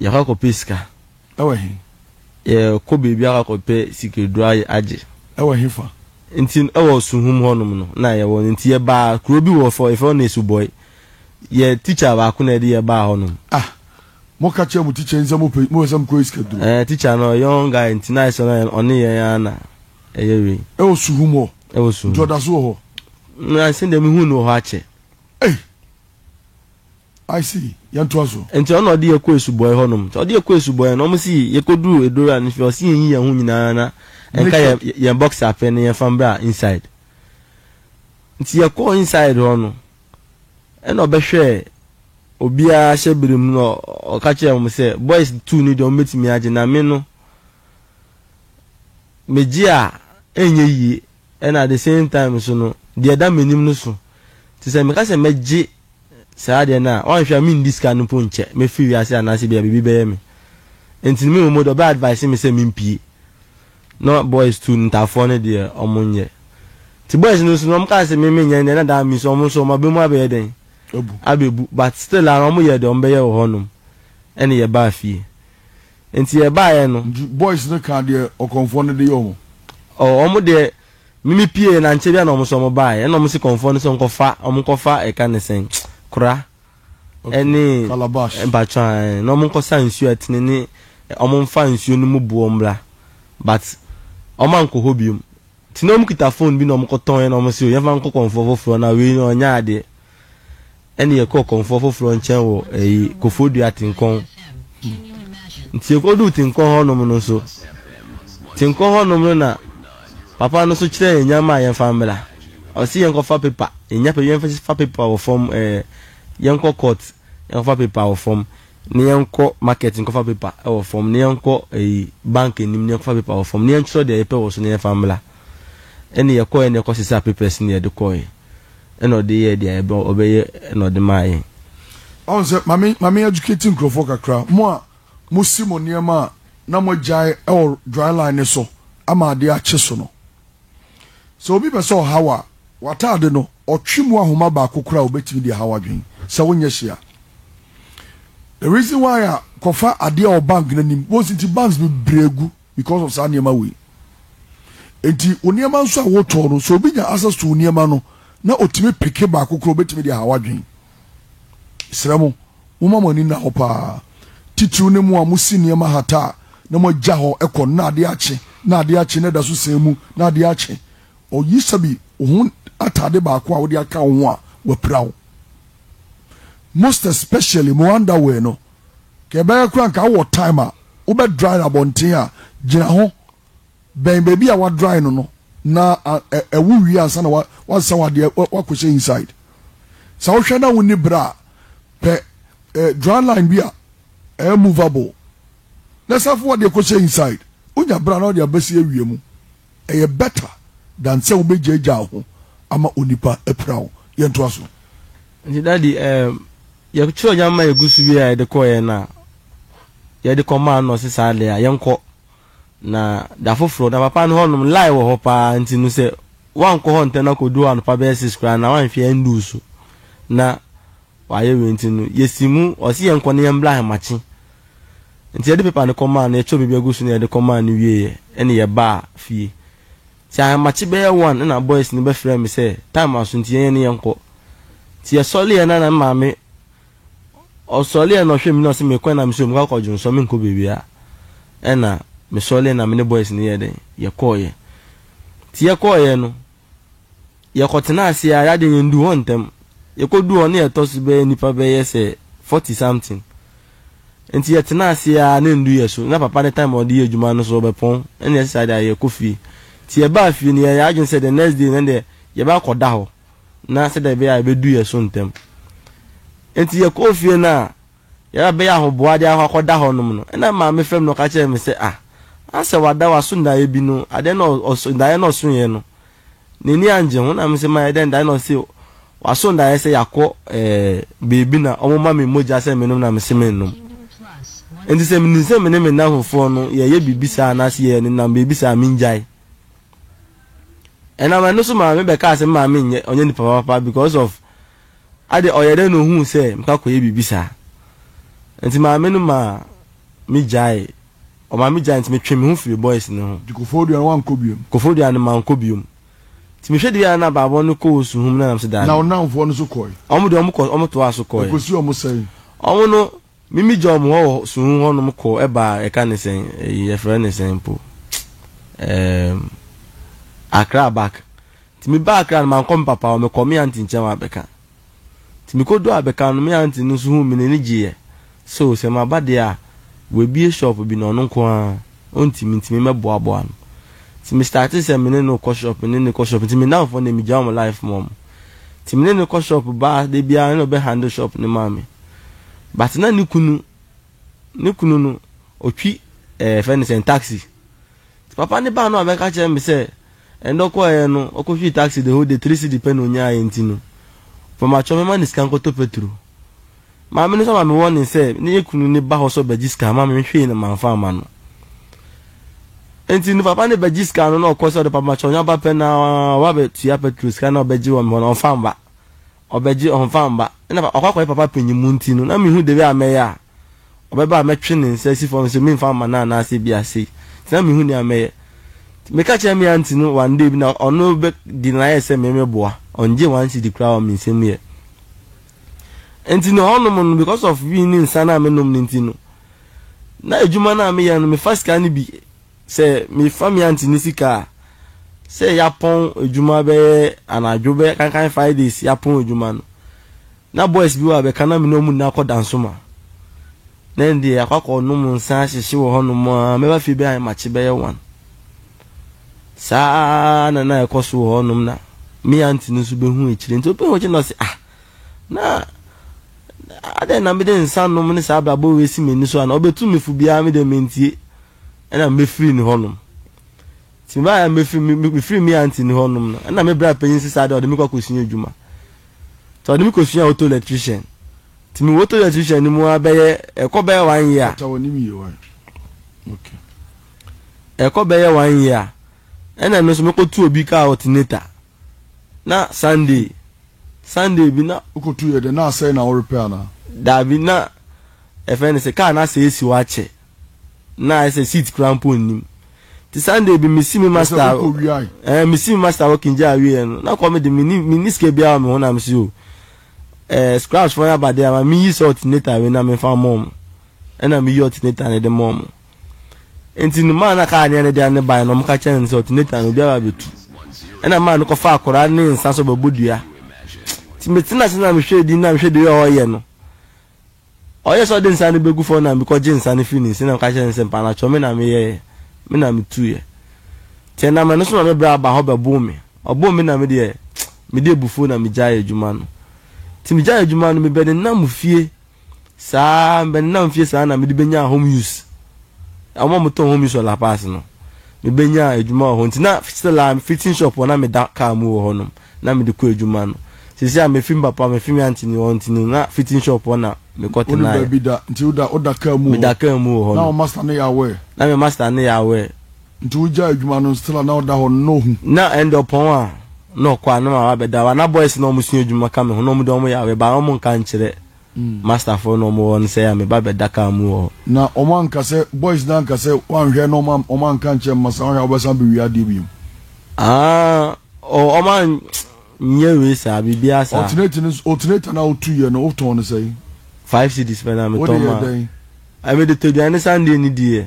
Yɛkɔ akɔpɛ sika. Ɛwɔ he? Yɛkɔ baabi akɔpɛ sikaduro ayɛ agye. Ɛwɔ he fa? Nti ɛwɔ Suhum hɔnom no na yɛwɔ no. Nti yɛbaa kuro bi wɔ fɔ, yɛfrɛ hɔ Nesubɔi. Yɛ tikya baako na ɛde yɛ baa hɔnom. Ah! Mo ka kyerɛɛ mo tikya yi sɛ mo pɛ, mo pɛ sɛ mo kɔ yɛ sikaduro? Ɛɛ, tikya no ɔyɛ young guy nti na ayɛ sɛ ɔne, ɔne yɛn ara na ɛyɛ wei. Ɛwɔ Suhum hɔ? Ɛwɔ Suhum. Nti ɔda so wɔ hɔ? Na sɛdeɛ mehu no wɔ hɔ akyɛ. Ei! I see, yɛn toa so. Nti ɔna ɔde yɛ kɔ esubɔɛ hɔ nom, nti ɔde yɛ kɔ esubɔɛ no ɔmo si yɛ kɔ duru edora no fie ɔsi yɛn yi yɛn ho nyinaa na ɛnka yɛn yɛn box apɛ no yɛn fa mbra inside nti yɛ kɔɔ inside hɔ no ɛna ɔbɛ hwɛɛ obiara ahyɛ bere mu na ɔka kyerɛ ɔmo sɛ boys two no deɛ ɔmo betumi agye na me no megye a ɛnyɛ yie. Ɛna at the same time nso no, deɛ ɛda m'anim no so. Nti sɛ meka sɛ mɛgye saa adeɛ no a, woanhwɛ a mendi sika no mpo nkyɛ. Mɛfiri wiase anaasɛ ebia biribi bɛyɛ me. Nti no me mmom deɛ ɔbɛ advise me sɛ mempue. Na boys too no Ntaafoɔ no deɛ wɔnyɛ. Nti boys no nso no wɔkaa sɛ me menyɛ no deɛ na that means wɔn nso wɔn aba mu abɛyɛ dɛn? Abu. Abɛbu. But still ara wɔyɛɛ deɛ wɔbɛyɛ wɔ hɔnom ɛne yɛbaa fie. Nti yɛ baeɛ no. Nti boys no kaa deɛ ɔkɔmfoɔ no de yɛ ɔmo. Ɔɔ ɔmo deɛ me me pieɛ na nkyɛ bia na ɔmo so ɔmo baeɛ ɛna ɔmo se kɔmfoɔ no sɛ ɔnkɔ fa ɔmo nkɔ fa ɛka ne sɛn kora ɛne Calabash. mpakyɛw a ɛɛ na ɔmo nkɔ sa nsuo a ɛtene ne ɔmo nfa nsuo no mu boɔ mmra but ɔmo ankɔ hɔ biom. Nti na ɔmo kita phone bi na ɔmo kɔ tɔn yɛ na ɔmo se o yɛnfa nkɔ kɔmfoɔ foforɔ na wei no ɔnyɛ adeɛ ɛne yɛ kɔɔ kɔmfoɔ foforɔ nkyɛn wɔ ɛyi kofo dua tinkɔn nti yɛ kɔ duu tinkɔn hɔ nom no nso tinkɔn hɔ nom no na papa no so kyerɛ yɛ nyama a yɛnfa mbra ɔse yɛnkɔ fa paper yɛnya paper yɛnfa fa paper wɔ fam ɛɛ yɛnkɔ court yɛnkɔ fa paper wɔ fam na yɛnkɔ market nkɔfa paper wɔ fam, na yɛnkɔ ɛyi bank anim na yɛnkɔfa paper wɔ fam, na yɛntwerɛ deɛ yɛpɛ wɔ so na yɛmfa mmra. Ɛne yɛkɔɛ na yɛkɔ sesaa papers na yɛde kɔɛ. Ɛna ɔde yɛɛ deɛ yɛbɛ ɔbɛyɛ ɛna ɔde maa yɛn. Ɔn sɛ mame mame educate nkurɔfoɔ kakra mo a mosi mo nneɛma a na moagyae ɛwɔ dry line no so ama adeɛ akye so no. Sɛ obi pɛ sɛ ɔhaw a, w'ataade no, ɔtwe mu ahoma baako koraa a obetumi de ahaw adwene sɛ wonyɛ hyia. The reason why a kɔfa adeɛ wɔ bank no anim, wɔn si nti banks bebree agu because of saa nneɛma wei. Enti wo nneɛma nso a wotɔn no, sɛ obi nya access to wo nneɛma no na otumi peke baako koraa a obetumi de ahaw adwene. Mesrɛ mo, momma mo ani nna hɔ paa, titiriw ne mo a musi nneɛma hata a, na moagya hɔ kɔ no na ade akye, na ade akye, na ɛda so sɛn mu, na ade akye. O Yisabi, wo ho atade baako a wode aka wo ho a, wɔapira wo. Most especially mo underwear no, ka ɛbɛyɛ koraa nka wowɔ time a, wobɛdrive abɔnten a, gyina ho Bɛn baabi a wa dry no no na ɛwo wie ansa na wa saw adeɛ wa kɔ hyɛ inside. Sɛ wo hwɛ na wo ni bra a, pɛ dry line bi a ɛyɛ movable na sa fo wadeɛ kɔ hyɛ inside. Wo nya bra na ɔde abɛsi awia mu. Ɛyɛ better than sɛ wo bɛ gya gya ho ama onipa apira wo. Yɛ ntoa so. Nti daddy ɛɛm yɛ kyerɛw nyama yɛ gu so wie a yɛ de kɔɔ yɛ no a yɛ de kɔ maa no na ɔse saa deɛ a yɛ nkɔ. Na da foforɔ na papa no hɔnom line wɔ hɔ paa nti no sɛ woankɔ hɔ ntɛm na kɔdu hɔ anɔpa bɛyɛ six koraa na woanhwɛ ɛnduu so na wayɛ wei nti no yɛsi mu ɔse yɛnkɔ na yɛmbla ahemakye nti yɛde paper no kɔmaa no yɛkyɛw biribi agu so na yɛde kɔmaa no wieɛ ɛne yɛbaa fie nti ahemakye bɛyɛ one na boys no bɛfrɛ me sɛ time aso nti yɛnyɛ ne yɛnkɔ nti yɛsɔleɛ na na maame Ɔsɔree na ɔhwɛɛ me na ɔse mekɔ na mesɛ mekɔ akɔ dwonsɔ menkɔ bebia ɛna mesɔree na me ne boys no yɛɛ dɛn yɛkɔɔyɛ nti yɛkɔɔyɛ no yɛkɔ tenaa ase aa yadeɛ yɛn duu hɔ ntɛm yɛkɔ duu hɔ na yɛtɔ so bɛyɛ nipa bɛyɛ sɛ forty something nti yɛtenaa ase aa na ndu yɛ so na papa no time a ɔde yɛ adwuma no so ɔbɛpɔn ɛna yɛsesa de ayɛ kɔ fie nti yɛbaa fie no yɛyɛ adwene sɛ the next day no deɛ yɛbɛ akɔ da hɔ na sɛdeɛ ɛbɛyɛ a ɛbɛdu yɛn so ntɛm. Enti yɛkɔɔ fie no a, yɛn a bɛyɛ ahoboa de akɔ akɔda hɔ nom no, ɛna maame frɛ me na ɔka kyerɛɛ me sɛ, Ah, asɛ wada w'aso daeɛ bi no, adeɛ na ɔso, daeɛ na ɔsoeɛ no, n'ani angye ho. Na me sɛ, mayɛ dɛn daeɛ na ɔse waso daeɛ sɛ yɛakɔ eh, baabi na wɔma me mogya sɛ menom na mese mennom. Enti sɛ menim sɛ me ne me nnamfofoɔ no yɛyɛ biribi saa anaasɛ yɛnenam baabi saa a, mengyae. Ɛnam ɛno so maa me bɛkaa sɛ me maame nyɛ ɔnyɛ nipa papa because of ade ɔyɛ dɛ na ohuu sɛ mekɔ akɔyɛ biribi saa. Nti maame no maa me gyae ɔmaa me gyae nti me twe me ho firi boys no ho. Nti Koforidua no wankɔ biom? Koforidua no mankɔ biom. Nti mehwɛ de yɛ a na abaabɔ no kɔ Osuhum na nam sɛ daabi. Na wo nnamfoɔ no nso kɔe? Wɔn deɛ wɔn kɔ wɔn toaa so kɔe. Ɛkɔsii wɔn sɛn? Wɔn no. Me me gya ɔmo hɔ wɔ suhuu hɔ nom kɔ ɛbaa yɛka ne sɛn eyi yɛfrɛ ne sɛn mpo ɛɛm Accra back nti me baa Accra no mankɔ me papa hɔ me kɔ me aunty nkyɛn wɔ Abeka nti me kɔduu Abeka no me aunty no nso huu me n'ani gyeeɛ sɛ o sɛ maba deɛ a w'abue shop bi na ɔno nko ara ɔntumi nti me mɛboaboa no nti me startee sɛ me ne no kɔ shop me ne no kɔ shop nti me nnamfoɔ no deɛ me gyaa ɔmo life ma ɔmo. Nti me ne no kɔ shop baa da biara na ɔbɛ handle shop no ma me. But na ne kunu, ne kunu no ɔtwi eh, yɛfrɛ no sɛn taxi. Nti papa no baa no a ɔbɛka kyerɛ me sɛ ɛnɛ ɔkɔɔɛ no ɔkɔtwii taxi the whole day, three cedi pɛ na ɔnyaeɛ nti no, ɔpɛ makyɛ ɔmɛma no sika nkɔtɔ petro. Maame no nsa ma me warning sɛ ne yɛ kunu ne ba hɔ sɛ ɔbɛgye sika ama me, me hwee no manfa amma no. Enti ne papa ne bɛgye sika no na ɔkɔ sɛ ɔde papa makyɛ ɔnya ba pɛ na ɔba bɛ tua petrol sika na ɔbɛgye wɔ me hɔ na ɔnfa mba. Ɔbɛgye ɔnfa mba. Ɛna ɔkɔ akɔyɛ papa panyin mu nti no na mehu the way a mɛyɛ a ɔbɛba a mɛtwe ne nsa asi fam sɛ memfa mma no anaasɛ bi a sei. Nti na mehu nea mɛyɛ. Nti meka kyerɛɛ me aunty no one day bi na ɔno bɛ di na ayɛ sɛ me meboa. Ɔngyee one cedi koraa wɔ me nsam yɛ. Ɛnti no hɔnom no because of win ne nsa no a menom no nti no, na adwuma no a meyɛ no mefa sika no bi, sɛ mefa me aunty ne sika a, sɛ yɛapɔn adwuma bɛyɛ anadwo bɛyɛ kankan five days yɛapɔn adwuma no, na boys bi wɔ a bɛka na me ne wɔn nyinaa kɔ Dansoman. Na ɛndeɛ yɛakɔ akɔnom nsa ahyehye wɔ hɔnom a, mɛba fie bɛyɛ ahemakye bɛyɛ one. Saa ara na na ɛkɔ so wɔ hɔnom na me aunty no nso behu akyire nti obehu akyire na ɔse ah na adɛn na mede nsa nom ne saa abrabɔ wei si m'ani so ana ɔbɛtu me fo biara me deɛ mentie ɛna mefiri ne hɔnom nti mebaeɛ a mefiri mefiri me aunty ne hɔnom no ɛna me bra panyin se saa deɛ ɔde me kɔ akɔsua adwuma nti ɔde me kɔsua auto electrician nti mewɔ auto electrician no mu a bɛyɛ ɛkɔ bɛyɛ one year. Ɔtɔ wɔ ne wie wan? Okay. ɛkɔ bɛyɛ one year a, ɛna me nso mɛkɔtu obi kaa alternator. Na Sunday, Sunday bi na. Wokɔtu yɛ dɛ, na asɛe na worepɛ anaa? Daabi, na ɛfɛ ne sɛ kaa no asɛe asi hɔ akyɛ, na ayɛ sɛ seat koraa mpo nnim. Nti Sunday bi mesi me master. Ɛsɛ wokɔ wiae. Ɛɛ mesi me master working gyaa wieɛ no, na kɔ me de menni menni sika biara wɔ me ho na me si o. Ɛɛ scraps fɔn yɛ aba de ama meyi sɛ alternator wei na memfa mma wɔn. Ɛna meyi alternator no de ma wɔn. Enti no maa na kaa neɛ ne deɛ ne baeɛ no wɔka kyerɛ no sɛ ɔte Nathan no obiara bɛtu. Ɛna maa no kɔfa akwadaa ne nsa sɛ ɔbɛbɔ dua. Nti metena ase na mehwɛ din na mehwɛ deɛ ɔyɛ no. Ɔyɛ sɛ ɔde nsa no bɛgu fam na mekɔgye nsa no firi ne nsa na meka kyerɛ no sɛ mpaanatwɔ me na meyɛeɛ, me na metuiɛ. Nti ɛnam ɛno so na mebrɛ aba hɔ bɛboo me. Ɔboo me na me deɛ mede abufuo na megyaee adwuma no. Nti megyaee adwuma no mebɛnenam fie. Saa ara, mebɛnenam fie saa na mede bɛnyaa home use. Wɔn a wɔtɔn home use wɔ La Paz no, mebɛnyaa adwuma wɔ hɔ nti, na still ara fitting shop hɔ na meda kaa mu wɔ hɔnom na mede kɔ adwuma no. Seesei a mafi me papa, mafi me aunty ne wɔn nti no, na fitting shop hɔ na mekɔ Wonni tenaeɛ. baabi da nti woda woda kaa mu wɔ hɔ. Meda kaa mu wɔ hɔ Na no. wo master no yɛ aware? Na me master no yɛ aware. Nti wo gyaa adwuma no still a na ɔda hɔ no na ɔhu. Na ɛnde ɔpɔn a na ɔkɔ a na maame abɛda hɔ a na boys na ɔmo sua adwuma ka me ho na ɔmo de ɔmo yareɛ ba a ɔmo nka nkyerɛ master foɔ na ɔmo wɔ hɔ no sɛ ɛyɛ a me ba bɛda car mu wɔ hɔ. Na ɔmo anka sɛ boys no anka sɛ wanhwɛ na ɔmo ɔmo anka nkyerɛ me masa wohwɛ a wobɛsan abɛwie adeɛ biom. Aah oh ɔmo an nyɛ wei saa biribiara saa. Alternate no nso alternator no a wo tuiɛ no wo tɔn no sɛn? Five cedis pɛ na me tɔn maa. Wode yɛɛ dɛn? Ɛɛ me de tɔ aduane ne Sunday ne diiɛ.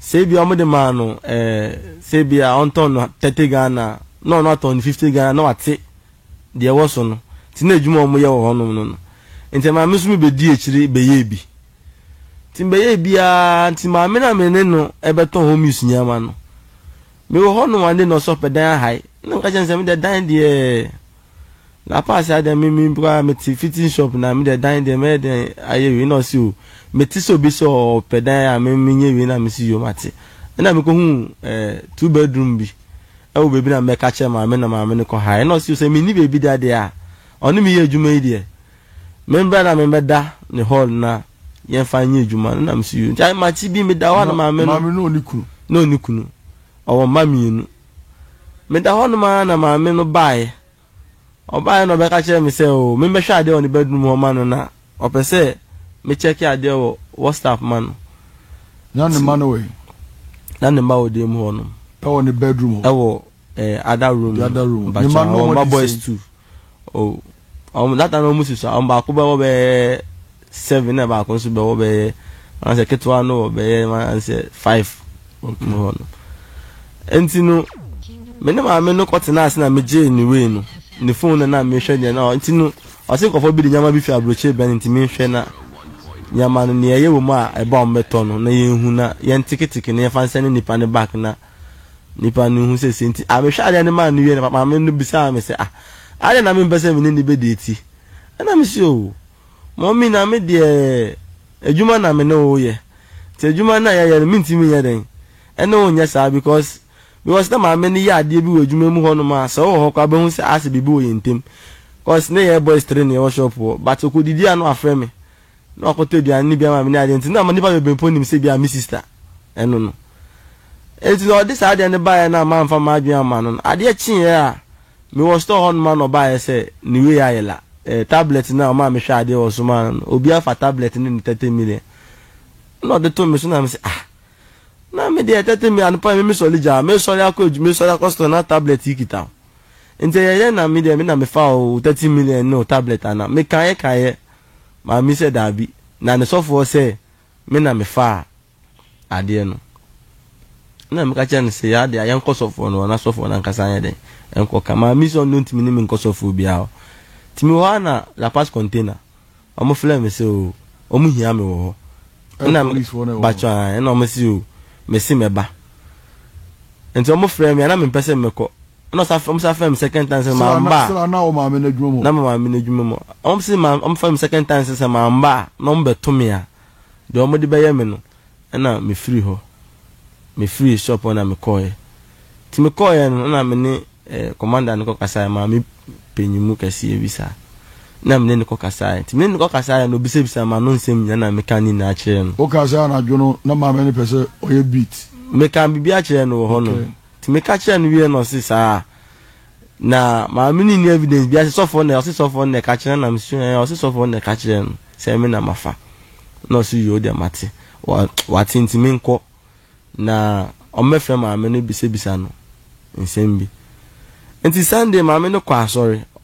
sɛ ebia wɔde maa no ɛɛ sɛ ebia ɔntɔn no thirty Ghana na ɔno atɔn no fifty Ghana na wate deɛ ɛwɔ so no nti na adwuma a wɔyɛ wɔ hɔnom no no nti maame nso mebɛdi akyiri bɛyɛɛ bi nti mebɛyɛɛ biara nti maame no a me ne no ɛbɛtɔn home use nneɛma no mewɔ hɔnom ande na ɔsɛ ɔpɛ dan ahae na meka kyerɛ no sɛ medeɛ dan deɛ Na paa se adɛn me me mpo a mete fitting shop na me deɛ dan deɛ mɛyɛ dɛn ayɛ wei na ɔse o mete sɛ obi sɛ ɔpɛ dan a me menyɛ wei na mese yo mate ɛna mekɔhu eh two bedroom bi ɛwɔ baabi na mɛka kyerɛ maame na maame no kɔhae ɛna ɔse o sɛ menni baabi da deɛ a ɔne me yɛ adwuma yi deɛ membra na membɛda ne hall na yɛmfa nyɛ adwuma no na mese yo nti makye bi meda hɔ a na maame no maame no ɔne kunu na ɔne kunu ɔwɔ mma mmienu Meda hɔnom ara na maame no baeɛ. Ɔbaeɛ na ɔbɛka kyerɛɛ me sɛ oo memmɛhwɛ adeɛ wɔ ne bedroom hɔ mma no na ɔpɛ sɛ me kyɛke adeɛ wɔ WhatsApp mma no. Na ne mma no wɔ he? Na ne mma wɔ dan mu hɔnom. Ɛwɔ ne bedroom hɔ? Ɛwɔ eh, other room. The other room. Ne mma no wɔn adi sɛn? Wɔn mma boys two. O, wɔn, data no wɔn susua, wɔn baako bɛwɔ bɛyɛ seven na baako nso bɛwɔ bɛyɛ, wɔn sɛ ketewa no wɔ bɛyɛ wɔn sɛ five wɔ mu hɔ no. Nti no, me ne maame no kɔ tena ase na me gyee ne wei no, ne phone no na mehwɛ deɛ na, nti no, ɔse nkɔfɔ bi de nneɛma bi fi aburokyire bɛn nti mehwɛ na nneɛma no nea ɛyɛ wɔ mu a ɛba wɔn bɛtɔ no na yɛn hu na yɛn teketeke na yɛn fa nsɛn ne nipa ne back na. Nipa no hu sɛ sei nti a mehwɛ adeɛ no maa no wie no, maame no bisaa me sɛ, Ah, adɛn na mempɛ sɛ me ne no bɛdi ati? Ɛnna mese, Oh, mɔmi, na me deɛ adwuma na me ne wo yɛ, nti adwuma no a yɛyɛ no mentumi nyɛ dɛn ne wo nyɛ saa because because na maame no yɛ adeɛ bi wɔ adwuma mu hɔnom a sɛ ɔwɔ hɔ koraa bɛhu sɛ asɛ biribi wɔ yɛn ntam because na yɛyɛ boys three na yɛwɔ shop hɔ but ɔkɔdidi a na wafrɛ me na wakɔtɔ aduane no bi ama me ne adeɛ nti na nnipa bebree mpo nim sɛ bia me sista ɛno no nti na ɔde saa adeɛ no baeɛ no a mamfa m'adwene amma no no adeɛ kyeeɛ a mewɔ store hɔ nom a na ɔbaeɛ sɛ ne wei ayɛ la eh, tablet no a ɔmaa mehwɛ adeɛ wɔ so maa no no obi afa tablet no ne 30 million na ɔde to me so na me sɛ ah na me deɛ 30 million anopa me mesɔre gyaa mesɔre akɔ adwuma mesɔre akɔ store na tablet yi kita nti ɛyɛ yɛ na me deɛ me na mefa o 30 million no tablet ana mekaeɛ kaeɛ Maame sɛ daabi, na ne sɔfoɔ sɛ me na mefaa adeɛ no. Ɛna meka kyerɛ no sɛ yɛ adeɛ a yɛnkɔ sɔfoɔ no hɔ na sɔfoɔ no ankasa anyɛ dɛn nkɔ ka. Maame sɛ ɔno ntumi ne me nkɔ sɔfoɔ biara hɔ. Nti mewɔ hɔ a na La Paz container, wɔn flɛ me sɛ o, wɔn hia me wɔ hɔ. Ɛna bakyɔ a, ɛna wɔn sɛ o, mese mɛba. Nti wɔn frɛ me a na mempɛ sɛ mɛkɔ. ɛna ɔsa ɔmo sa fɛm second time sɛ maa mba a na wɔ maame n'adwuma mu na ma maame n'adwuma mu ɔmo si maa ɔmo fɛm second time sɛ sɛ maa mba a na ɔmo bɛto me a deɛ ɔmo de bɛyɛ me no ɛna me firi hɔ me firi shop hɔ na me kɔɔɛ ti me kɔɔɛ no ɛna me ne ɛɛ commander no kɔ kasaɛ maame panyin mu kɛseɛ bi saa na me ne ne kɔ kasaɛ ti me ne ne kɔ kasaɛ no obisabisa ma no nsɛm nyina na me ka ne nyinaa kyerɛ no. o kasaɛ anadwo no na maame no pɛ sɛ ɔyɛ beat. me ka bibi akyerɛ no wɔ hɔ no. Okay. Nti meka kyerɛɛ no wieɛ na ɔse saa a na maame no nni evidence biaa sɛ sɔfoɔ na ɔse sɔfoɔ no na ɛka kyerɛ no na mesu ɛɛ ɔse sɔfoɔ no na ɛka kyerɛ no sɛ me na mafa na ɔse yoo deɛ mate wate nti menkɔ na ɔmmɛfrɛ maame no bisabisa no nsɛm bi nti Sunday maame no kɔ asɔre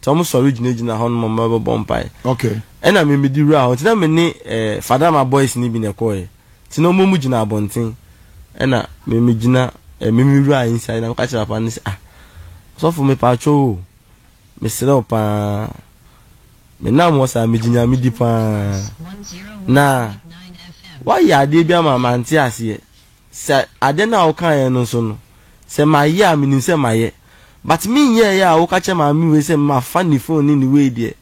nti wɔn sɔre gyinagyina hɔ nom wɔn bɛbɔ mpae okay ɛna mi mi di wura hɔ nti na mi ne ɛɛ eh, fadama boys ni bi na ɛkɔɔ yɛ nti na wɔn mu gyina abɔnten ɛna mi mi gyina ɛɛ eh, mi mi wura inside na mi ka kyerɛ papa ne sɛ ah sɔfo mi pa atwa o mi srɛ o paa mi nam wɔ saa mi gyina mi di paa na wayɛ adeɛ bi ama ma nte aseɛ. Sɛ ade no a wokaeɛ no nso no, sɛ mayɛ a, menim sɛ mayɛ. But me nyɛeɛ a woka kyerɛ maame wei sɛ mafa ne phone ne ne wei deɛ,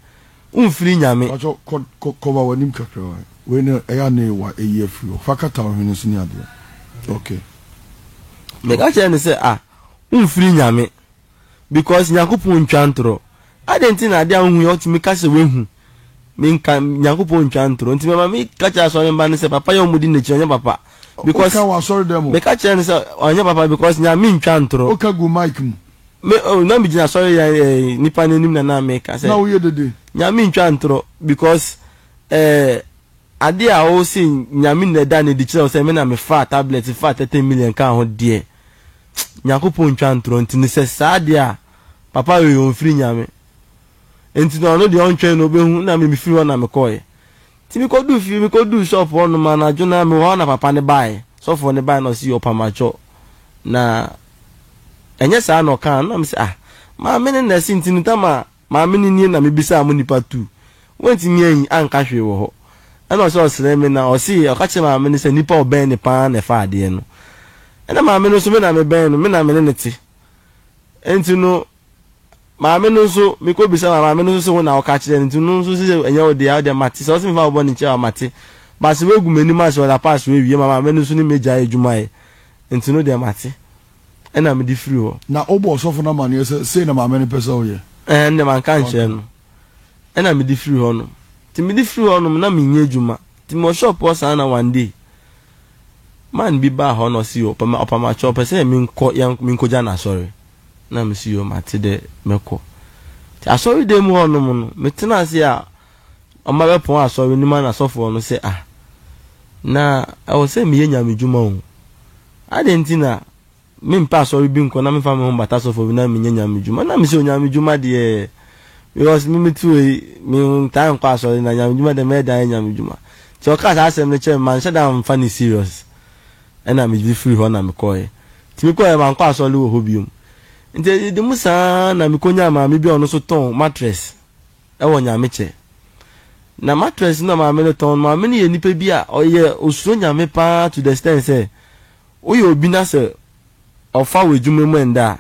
womfiri Nyame. Mpakyɛw kɔ kɔ cover w'anim kakra wae wei no ɛyɛ a ne wa ɛyi afiri hɔ fa kata wo hwene so ne adeɛ ok. Meka kyerɛɛ no sɛ ah womfiri Nyame. because Nyankopɔn ntwa ntorɔ. Adɛn nti na adeɛ a wohu yi wotumi ka sɛ woahu? Menka, Nyankopɔn ntwa ntorɔ. Nti mɛma meka kyerɛ asɔre mma no sɛ papa yi a wɔdi n'akyi no ɛnyɛ papa. Because, Woka wɔ asɔre dɛm o. meka kyerɛ no sɛ ɔnyɛ papa because Nyame ntwa ntorɔ. Woka gu mic mu. Me, oh, na megyina asɔre yɛ ɛɛ eh, nipa no anim na na meka sɛ. Na woyɛ dede. Nyame ntwa ntorɔ because ɛɛ eh, adeɛ a wose Nyame na ɛda no adi kyerɛ wo sɛ me na mefaa tablet faa 30 million kaa ho deɛ. Nyankopɔn ntwa ntorɔ nti no sɛ saa deɛ a papa wei ɔnfiri Nyame nti no ɔno deɛ ɔntwɛn na ɔbɛhu na me mefiri hɔ na mekɔeɛ nti mekɔduu fie mekɔduu shop hɔ nom anadwo no ara mewɔ hɔ na papa no baeɛ sɔfoɔ no baeɛ na ɔse yɔ pamakyɔ na ɛnyɛ saa na ɔkaa no na mese ah maame no na ɛse nti no tam a Maame no nie na mebisaa mo nipa tu. Wantumi anyi anka hwee wɔ hɔ. Ɛna ɔsɛ ɔsrɛ me na ɔsee ɔka kyerɛ maame no sɛ nipa a ɔbɛn no paa na ɛfa adeɛ no. Ɛna maame no nso me na mebɛn no, me na me ne no te. Nti no maame no nso mekɔ bisa ma maame no nso se wo na wo ka kyerɛ no nti no nso se sɛ ɛnyɛ wo dea wo deɛ mate sɛ ɔse me fa wo bɔne nkyɛ wo a mate but se wagu m'anim ase ɔda pass wawie ma maame no nso ne me gyae adwuma yɛ nti no deɛ mate. ɛna mede firi hɔ. Na wobɔ ɔsɔfo no amanneɛ sɛ, Sei na maame no pɛ sɛ woyɛ? Ɛɛ, ɛnde manka ankyerɛ no. Ɛna mede firi hɔnom. Nti mede firi hɔnom no, na menyɛ adwuma. Nti mewɔ shop hɔ saa na one day, man bi baa hɔ na ɔse, Yo, ɔpɛ ma, ɔpa ma kyɛ, ɔpɛ sɛ menkɔ, yɛn, menkɔgya no asɔre. Na mese, Yo, mate dɛ, mɛkɔ. Nti asɔredan mu hɔnom no, metena ase a ɔma bɛpɔn asɔre no mu a na sɔfoɔ no sɛ, Ah, na ɛwɔ sɛ meyɛ Nyame dwuma o. Adɛn nti na mempɛ asɔre bi nkɔ na memfa me ho mbata sɔfo bi na menyɛ Nyame dwuma? Na mese Onyame dwuma deɛ, because me mete hɔ yi, mentaa nkɔ asɔre na Nyame dwuma deɛ mɛyɛ dɛn ayɛ Nyame dwuma? Nti ɔkaa saa asɛm no kyerɛɛ me, manhyɛ da ammfa no serious, ɛna medze firii hɔ na mekɔɔɛ. Nti mekɔɔɛ, mankɔ asɔre wɔ hɔ biom. Nti ɛdedem saa na mekonyaa maame bi a ɔno nso tɔn mattress. wɔ nyamekyɛ. Na mattress no a maame no tɔn no, maame no yɛ nipa bi a ɔyɛ osuro nyame paa to the extent sɛ woyɛ obi na sɛ ɔfa wo adwuma mu ɛnda a,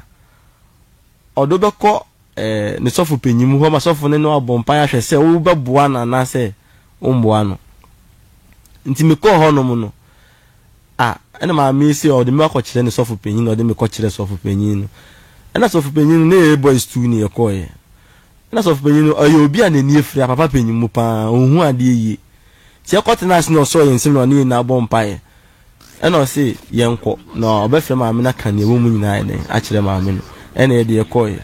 ɔde wo bɛkɔ ne sɔfo panyin mu hɔ ma sɔfo no ne wo abɔ mpaeɛ ahwɛ sɛ wobɛboa no anaasɛ wommoa no. Nti mekɔɔ hɔnom no, A, ɛna maame yi se ɔde me akɔkyerɛ ne sɔfo panyin na ɔde me kɔkyerɛɛ sɔfo panyin no. Ɛna sɔfo panyin no ne yɛyɛ boys two ne yɛkɔeɛ. Ɛna sɔfo panyin no ɔyɛ obi a n'ani afira, a papa panyin mu pa ara, ɔhu adeɛ yie. Nti yɛkɔtenaa ase na ɔsɔɔ yɛn nsam na ɔne yɛn nyinaa bɔɔ mpaeɛ. Ɛna ɔse yɛnkɔ na ɔbɛfrɛ maame no aka deɛ ɛwɔ mu nyinaa ayɛ dɛn akyerɛ maame no. Ɛna yɛde yɛkɔeɛ.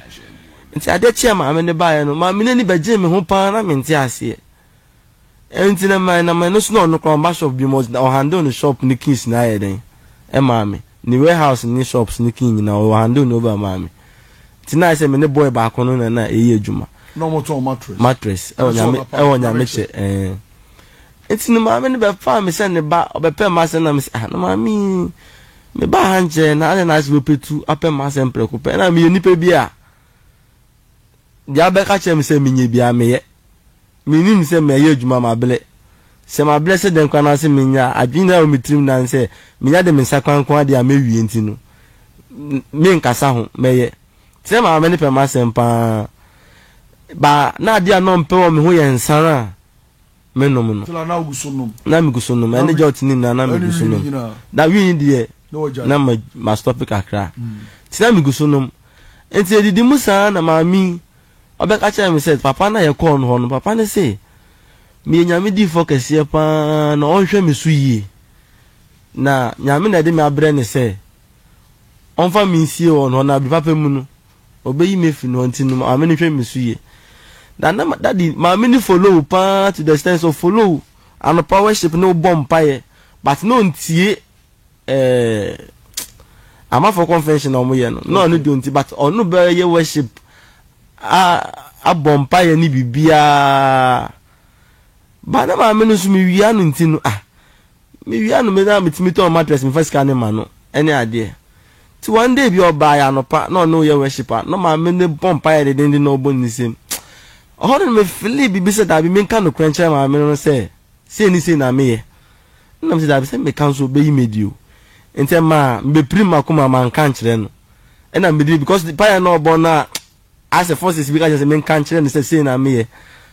Nti adeɛ kye a maame no baeɛ no, maame no ani bɛgyee me ho pa ara na mente aseɛ. Ɛnti na my na my no so na ɔno koraa ɔmba shop biom ɔdze ɔ handle ne shop ne keys nyinaa yɛ dɛn ɛmaa me ne warehouse ne shops ne key nyinaa ɔ handle ne over maa me nti na ayɛ sɛ me ne boy baako no na na ɛyɛ adwuma Na ɔmo tɔn mattress. mattress ɛwɔ Ɛsɛ nyame ɔnapa, ɛwɔ nyame kyɛ ɛɛn nti ne maame no bɛ faa me sɛ ne ba ɔbɛ pɛ m'asɛm na me sɛ ah na maame yi me ba ha nkyɛ na adɛn na ayɛ sɛ wɔ pɛ tu apɛ m'asɛm prɛko pɛ ɛna me yɛ nipa bi a Deɛ abɛka akyerɛ me sɛ menyɛ biara, meyɛ. Mennim sɛ mɛyɛ adwuma mabrɛ. Sɛ mabrɛ sɛ dɛn koraa na se menyɛ a, adwene nyinaa wɔ me tirim nan sɛ menya de me nsa kora nko ara deɛ a mɛwie nti no, menkasa ho, mɛyɛ. Sɛ maame no pɛ m'asɛm pa ara, ba na adeɛ a na ɔmpɛ wɔ me ho yɛ nsa no a, menom no. Na megu so nom. Ɛne Jot no nyinaa na megu so nom. Na wii no deɛ, na mastɔpe kakra. Nti na megu so nom. Nti yɛdidi mu saa na maame yi ɔbɛka kyerɛɛ me sɛ papa no a yɛkɔɔ no hɔ no, papa no se meyɛ Nyame difoɔ kɛseɛ pa ara na ɔnhwɛ me so yie. Na Nyame na ɛde me abrɛ no sɛ ɔmfa me nsie wɔn hɔ na bere papa mu no, ɔbɛyi me afi no ɔnti no maame no hwɛ me so yie na na daddy maame no follow wo paa to the extent sɛ ɔfollow wo anɔpa worship ne wobɔ mpaeɛ but na ɔntie ɛɛ amafo convention a wɔyɛ no na ɔno deɛ ɔnti but ɔno bɛyɛ worship a abɔ mpaeɛ ne biribiara ba na maame no nso mewia no nti no ah Mewia no me na metumi tɔn mattress mefa sika no ma no ɛne adeɛ Nti one day bi ɔbaa yɛ anɔpa na ɔne wo yɛ worship a na ɔma me ne bɔ mpaeɛ dendenden na ɔbɔ ne nsam Ɔhɔ no me feelee biribi sɛ daabi menka nokorɛ nkyerɛ maame no no sɛ sei ne sei na meyɛ Ɛna mese daabi sɛ meka nso ɔbɛyi me adi o Nti ɛmaa mebɛpirim makoma manka ankyerɛ no Ɛna mede because mpaeɛ na ɔbɔ no a Asɛ forces bi ka kyerɛ sɛ menka nkyerɛ no sɛ sei na meyɛ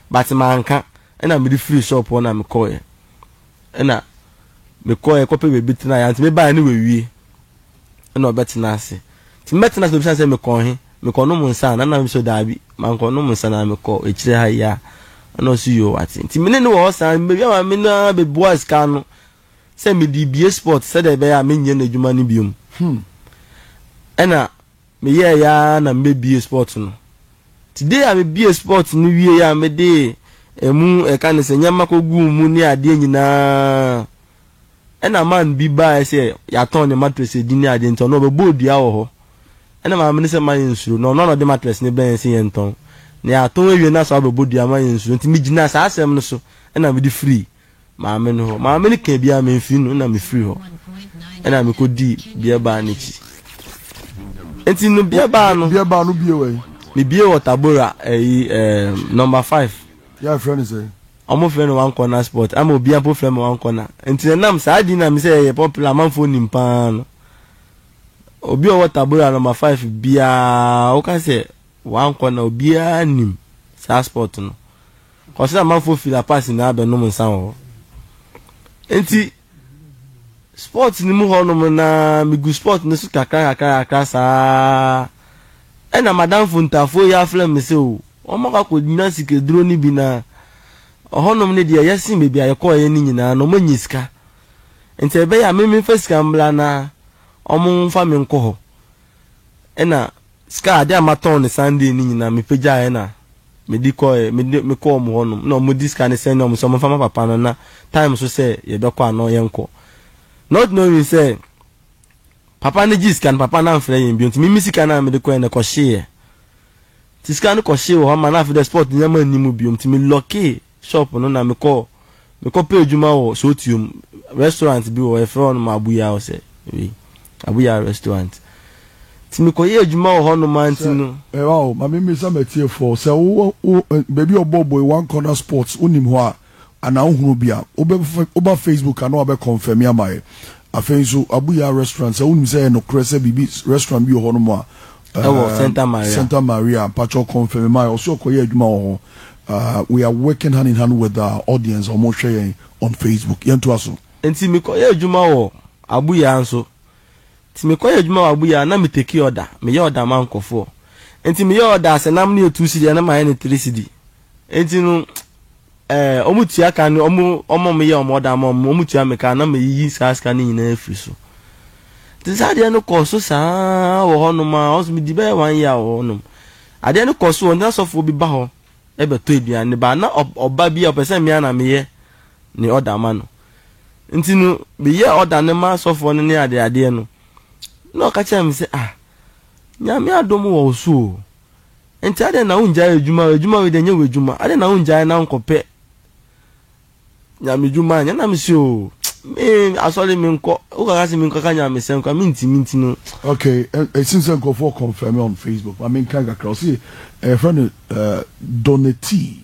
but manka ɛna mede firii shop hɔ na mekɔeɛ ɛna mekɔeɛ kɔpɛ baabi tenaeɛ anti mebaeɛ no wawie ɛna ɔbɛtena ase nti mɛtena ase na obisa sɛ mekɔɔ he mekɔnom nsa na na mesɛ daabi mankɔnom nsa na mekɔ akyire ha yi a ɛna ɔse yoo wate nti mene ne wɔ hɔ saa mebɛwie ama me no ara bɛbua sika no sɛ mede bie sport sɛdeɛ ɛbɛyɛ a menyɛ no adwuma no biom hmm. ɛna Meyɛɛe ara na mebɛbue spot no. Nti day a mebuee spot no wieeɛ a mede ɛmu ɛka ne sɛ nneɛma kɔguu mu ne adeɛ nyinaa ɛna man bi baaɛ sɛ yɛatɔn ne mattress ɛdi ne adeɛ nti ɔno ɔbɛbɔɔ dua wɔ hɔ ɛna maame no sɛ mma yɛnsuro na ɔno a na ɔde mattress no brɛɛ yɛn sɛ yɛntɔn na yɛatɔn awie na asa abɛbɔ dua mma yɛnsuro nti megyinaa saa asɛm no so ɛna mede firii maame no hɔ. Maame no kaa biara memfiri no na mefiri hɔ ɛna mekɔdii beer bar no akyi. Nti no beer bar no. Beer bar no bie wɔ yi. Mebie wɔ Tabora ɛyi ɛɛm number five. Yà fẹ́ ni sẹ́. Ọmọ fẹ́ ni one corner sport ama obi ampo fẹ́ mi one corner nti na nam saa di na mi sẹ́ yẹ popular amanfo nim paa no obi ọwọ Tabora number five biara ọka sẹ́ Wankɔ na obiara nnim saa spot no. Kɔse amanfoɔ fi La Paz nyinaa bɛnom nsa wɔ hɔ. Enti spot no mu hɔnom na megu spot no so kakra kakra kakra saa ɛna madamfo ntafoɔ yi afrɛ me sɛ o wɔn akɔ akɔnya sikaduro no bi na ɔhɔnom no deɛ ɛyɛ sen baabi a yɛkɔeɛ no nyinaa na wɔanya sika. Nti ɛbɛyɛ a me memfa sika mmra na wɔmfa me nkɔ hɔ. Ɛna Sika ade a matɔn no Sunday no nyinaa mepagyaeɛ na mede kɔeɛ, mede me kɔɔ wɔn hɔnom na wɔde sika no sɛndee wɔn sɛ wɔmfa ma papa no na time nso sɛ yɛbɛkɔ a na yɛnkɔ. Not knowing sɛ papa no gyee sika no papa no amfrɛ yɛn bio nti me me sika no a mede kɔeɛ no ɛkɔhyeeɛ. Nti sika no kɔhyee wɔ hɔ ma na afei deɛ spot nneɛma nni mu bio nti me lockee shop no na mekɔ mekɔ pɛ adwuma wɔ sootuom restaurant bi wɔ hɔ yɛfrɛ hɔ nom abuya hɔ sɛ wei abuya restaurant nti mekɔ yɛ adwuma wɔ hɔ nom a nti no. Sɛ ɛwɔ o ma me mmisa m'atiefoɔ sɛ wo wɔ wo baabi a ɔbɔ boe one corner sports wo nim hɔ a anaa wo hunu bi a wo bɛ wo ba facebook a na wa bɛ kɔnfɛmi ama yɛ afei nso abuya restaurant sɛ wo nim sɛ ɛyɛ nokorɛ sɛ biribi restaurant bi wɔ hɔ nom a ɛwɔ um, Santa Maria. Santa Maria, Pacho confirm my also okoye adwuma wɔ hɔ. Uh, we are working hand in hand with our audience ɔmo hwɛ yɛn on Facebook. Yɛn to aso. Nti mekɔyɛ adwuma wɔ Abuya nso. Nti mekɔyɛ adwuma wɔ Abuya na meteki ɔda, meyɛ ɔda ma nkɔfoɔ. Nti meyɛ ɔda sɛ nam no yɛ two cedi na mayɛ no three cedi. Enti no, ɛɛ, wɔtua ka no, wɔn a wɔyɛ wɔn ɔda ma wɔn, wɔtua me ka, na meyiyi saa sika no nyinaa firi so. Nti saa adeɛ no kɔɔ so saa wɔ hɔnom a, wɔn nso medi bɛyɛ one year wɔ hɔnom. Adeɛ no kɔɔ so wɔ ntina sɔfoɔ bi ba hɔ bɛtɔ aduane ba, na ɔba bi a ɔpɛ sɛ mmea na meyɛ ne ɔda ma no. Nti no, meyɛ ɔda no ma sɔfoɔ no ne adeadeɛ no, na ɔka kyerɛ me sɛ, ah, nyame adom wɔ wo so o. Enti adɛn na wongyae adwuma? Adwuma wei deɛ ɛnyɛ w'adwuma. Adɛn na wongyae na wonkɔpɛ nyamedwuma nyɛ? Na mese o, me asɔre menkɔ. Wokaka sɛ menkɔka nyamesɛm kora mentumi nti no. Okay, ɛsim sɛ nkurɔfoɔ confirm on Facebook. Ma menkan kakra. Ɔse ɛyɛfrɛ no Donatee.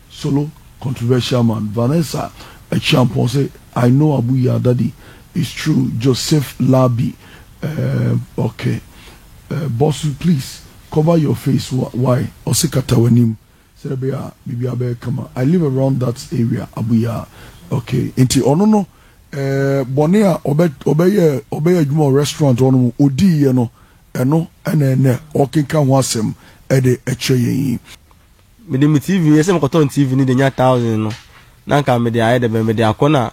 Solo controversial man Vanessa Akyiampong se I know Abu Yah daddy it's true Joseph Labi eh ok eh Bosu please cover your face wa why ɔse kata w'anim sɛdeɛ ɛbɛyɛ a biribiara bɛyɛ kama I live around that area Abu Yah ok nti ɔno no eh bɔne a ɔbɛ ɔbɛyɛɛ ɔbɛyɛ adwuma wɔ restaurant hɔ nom ɔdiiɛ no ɛno ɛna ɛnɛ ɔrekenkan ho asɛm ɛde ɛkyerɛ yɛn yi. Mede me TV yɛ sɛ mekɔtɔn TV no de nya thousand no na nka mede ayɛ dɛ bɛn mede akɔ na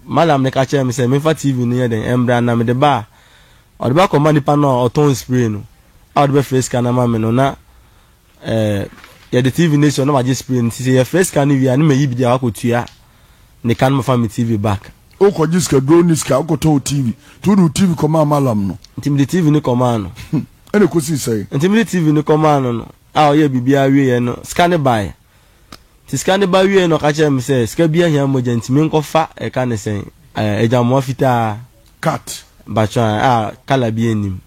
madam no ka kyerɛ me sɛ memfa TV no yɛ dɛn ɛmbra na mede ba a ɔde ba kɔma nipa no a ɔtɔn spray no a ɔde bɛfrɛ sika no ama me no na ɛɛ yɛde TV no asi hɔ na wagye spray no sisi yɛfrɛ sika no wie a ne mayi bi de a wakɔtua ne ka no mafa me TV back. Wokɔgye sika duro ne sika wokɔtɔ wo TV nti wode wo TV kɔmaa malam no. Nti mede TV no kɔmaa no. Ɛna ɛkɔsii sɛn? Nti mede TV no kɔmaa no no. a ɔyɛɛ biribiara wieeɛ no, sika no baeɛ. Nti sika no ba wieeɛ na ɔka kyerɛɛ me sɛ, sika biara hia mogya nti menkɔ fa ɛka ne sɛn, agyamoa fitaa, Cut. batwa a colour biara nnim,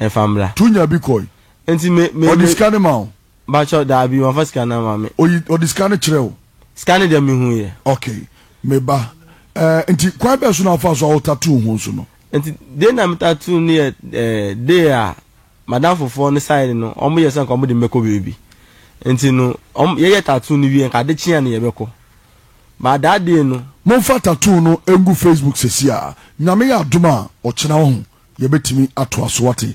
mfa mmra. Tu nya bi kɔe. Nti me, me, Ɔde me, sika no ma wo? batwa daabi, wamfa sika no ama me. Oyi, ɔde sika no kyerɛɛ wo? Sika no deɛ mehuiɛ. Okay, me ba. Ɛɛ, nti kwan bɛn so na wofaa so a wo tattoo ho nso no? Nti day no a me tattoo no yɛ ɛɛ, day a. M'adamfo foɔ no saeɛ no wɔn yɛ sɛ nka wɔn de me bɛkɔ baabi nti no wɔn yɛyɛ tattoo no wie nka ade kye a na yɛbɛkɔ but that day no. Monfa tattoo no ngu Facebook sesiaa nyame yɛ adom a ɔkyena wahu yɛbɛtumi atoa so wate.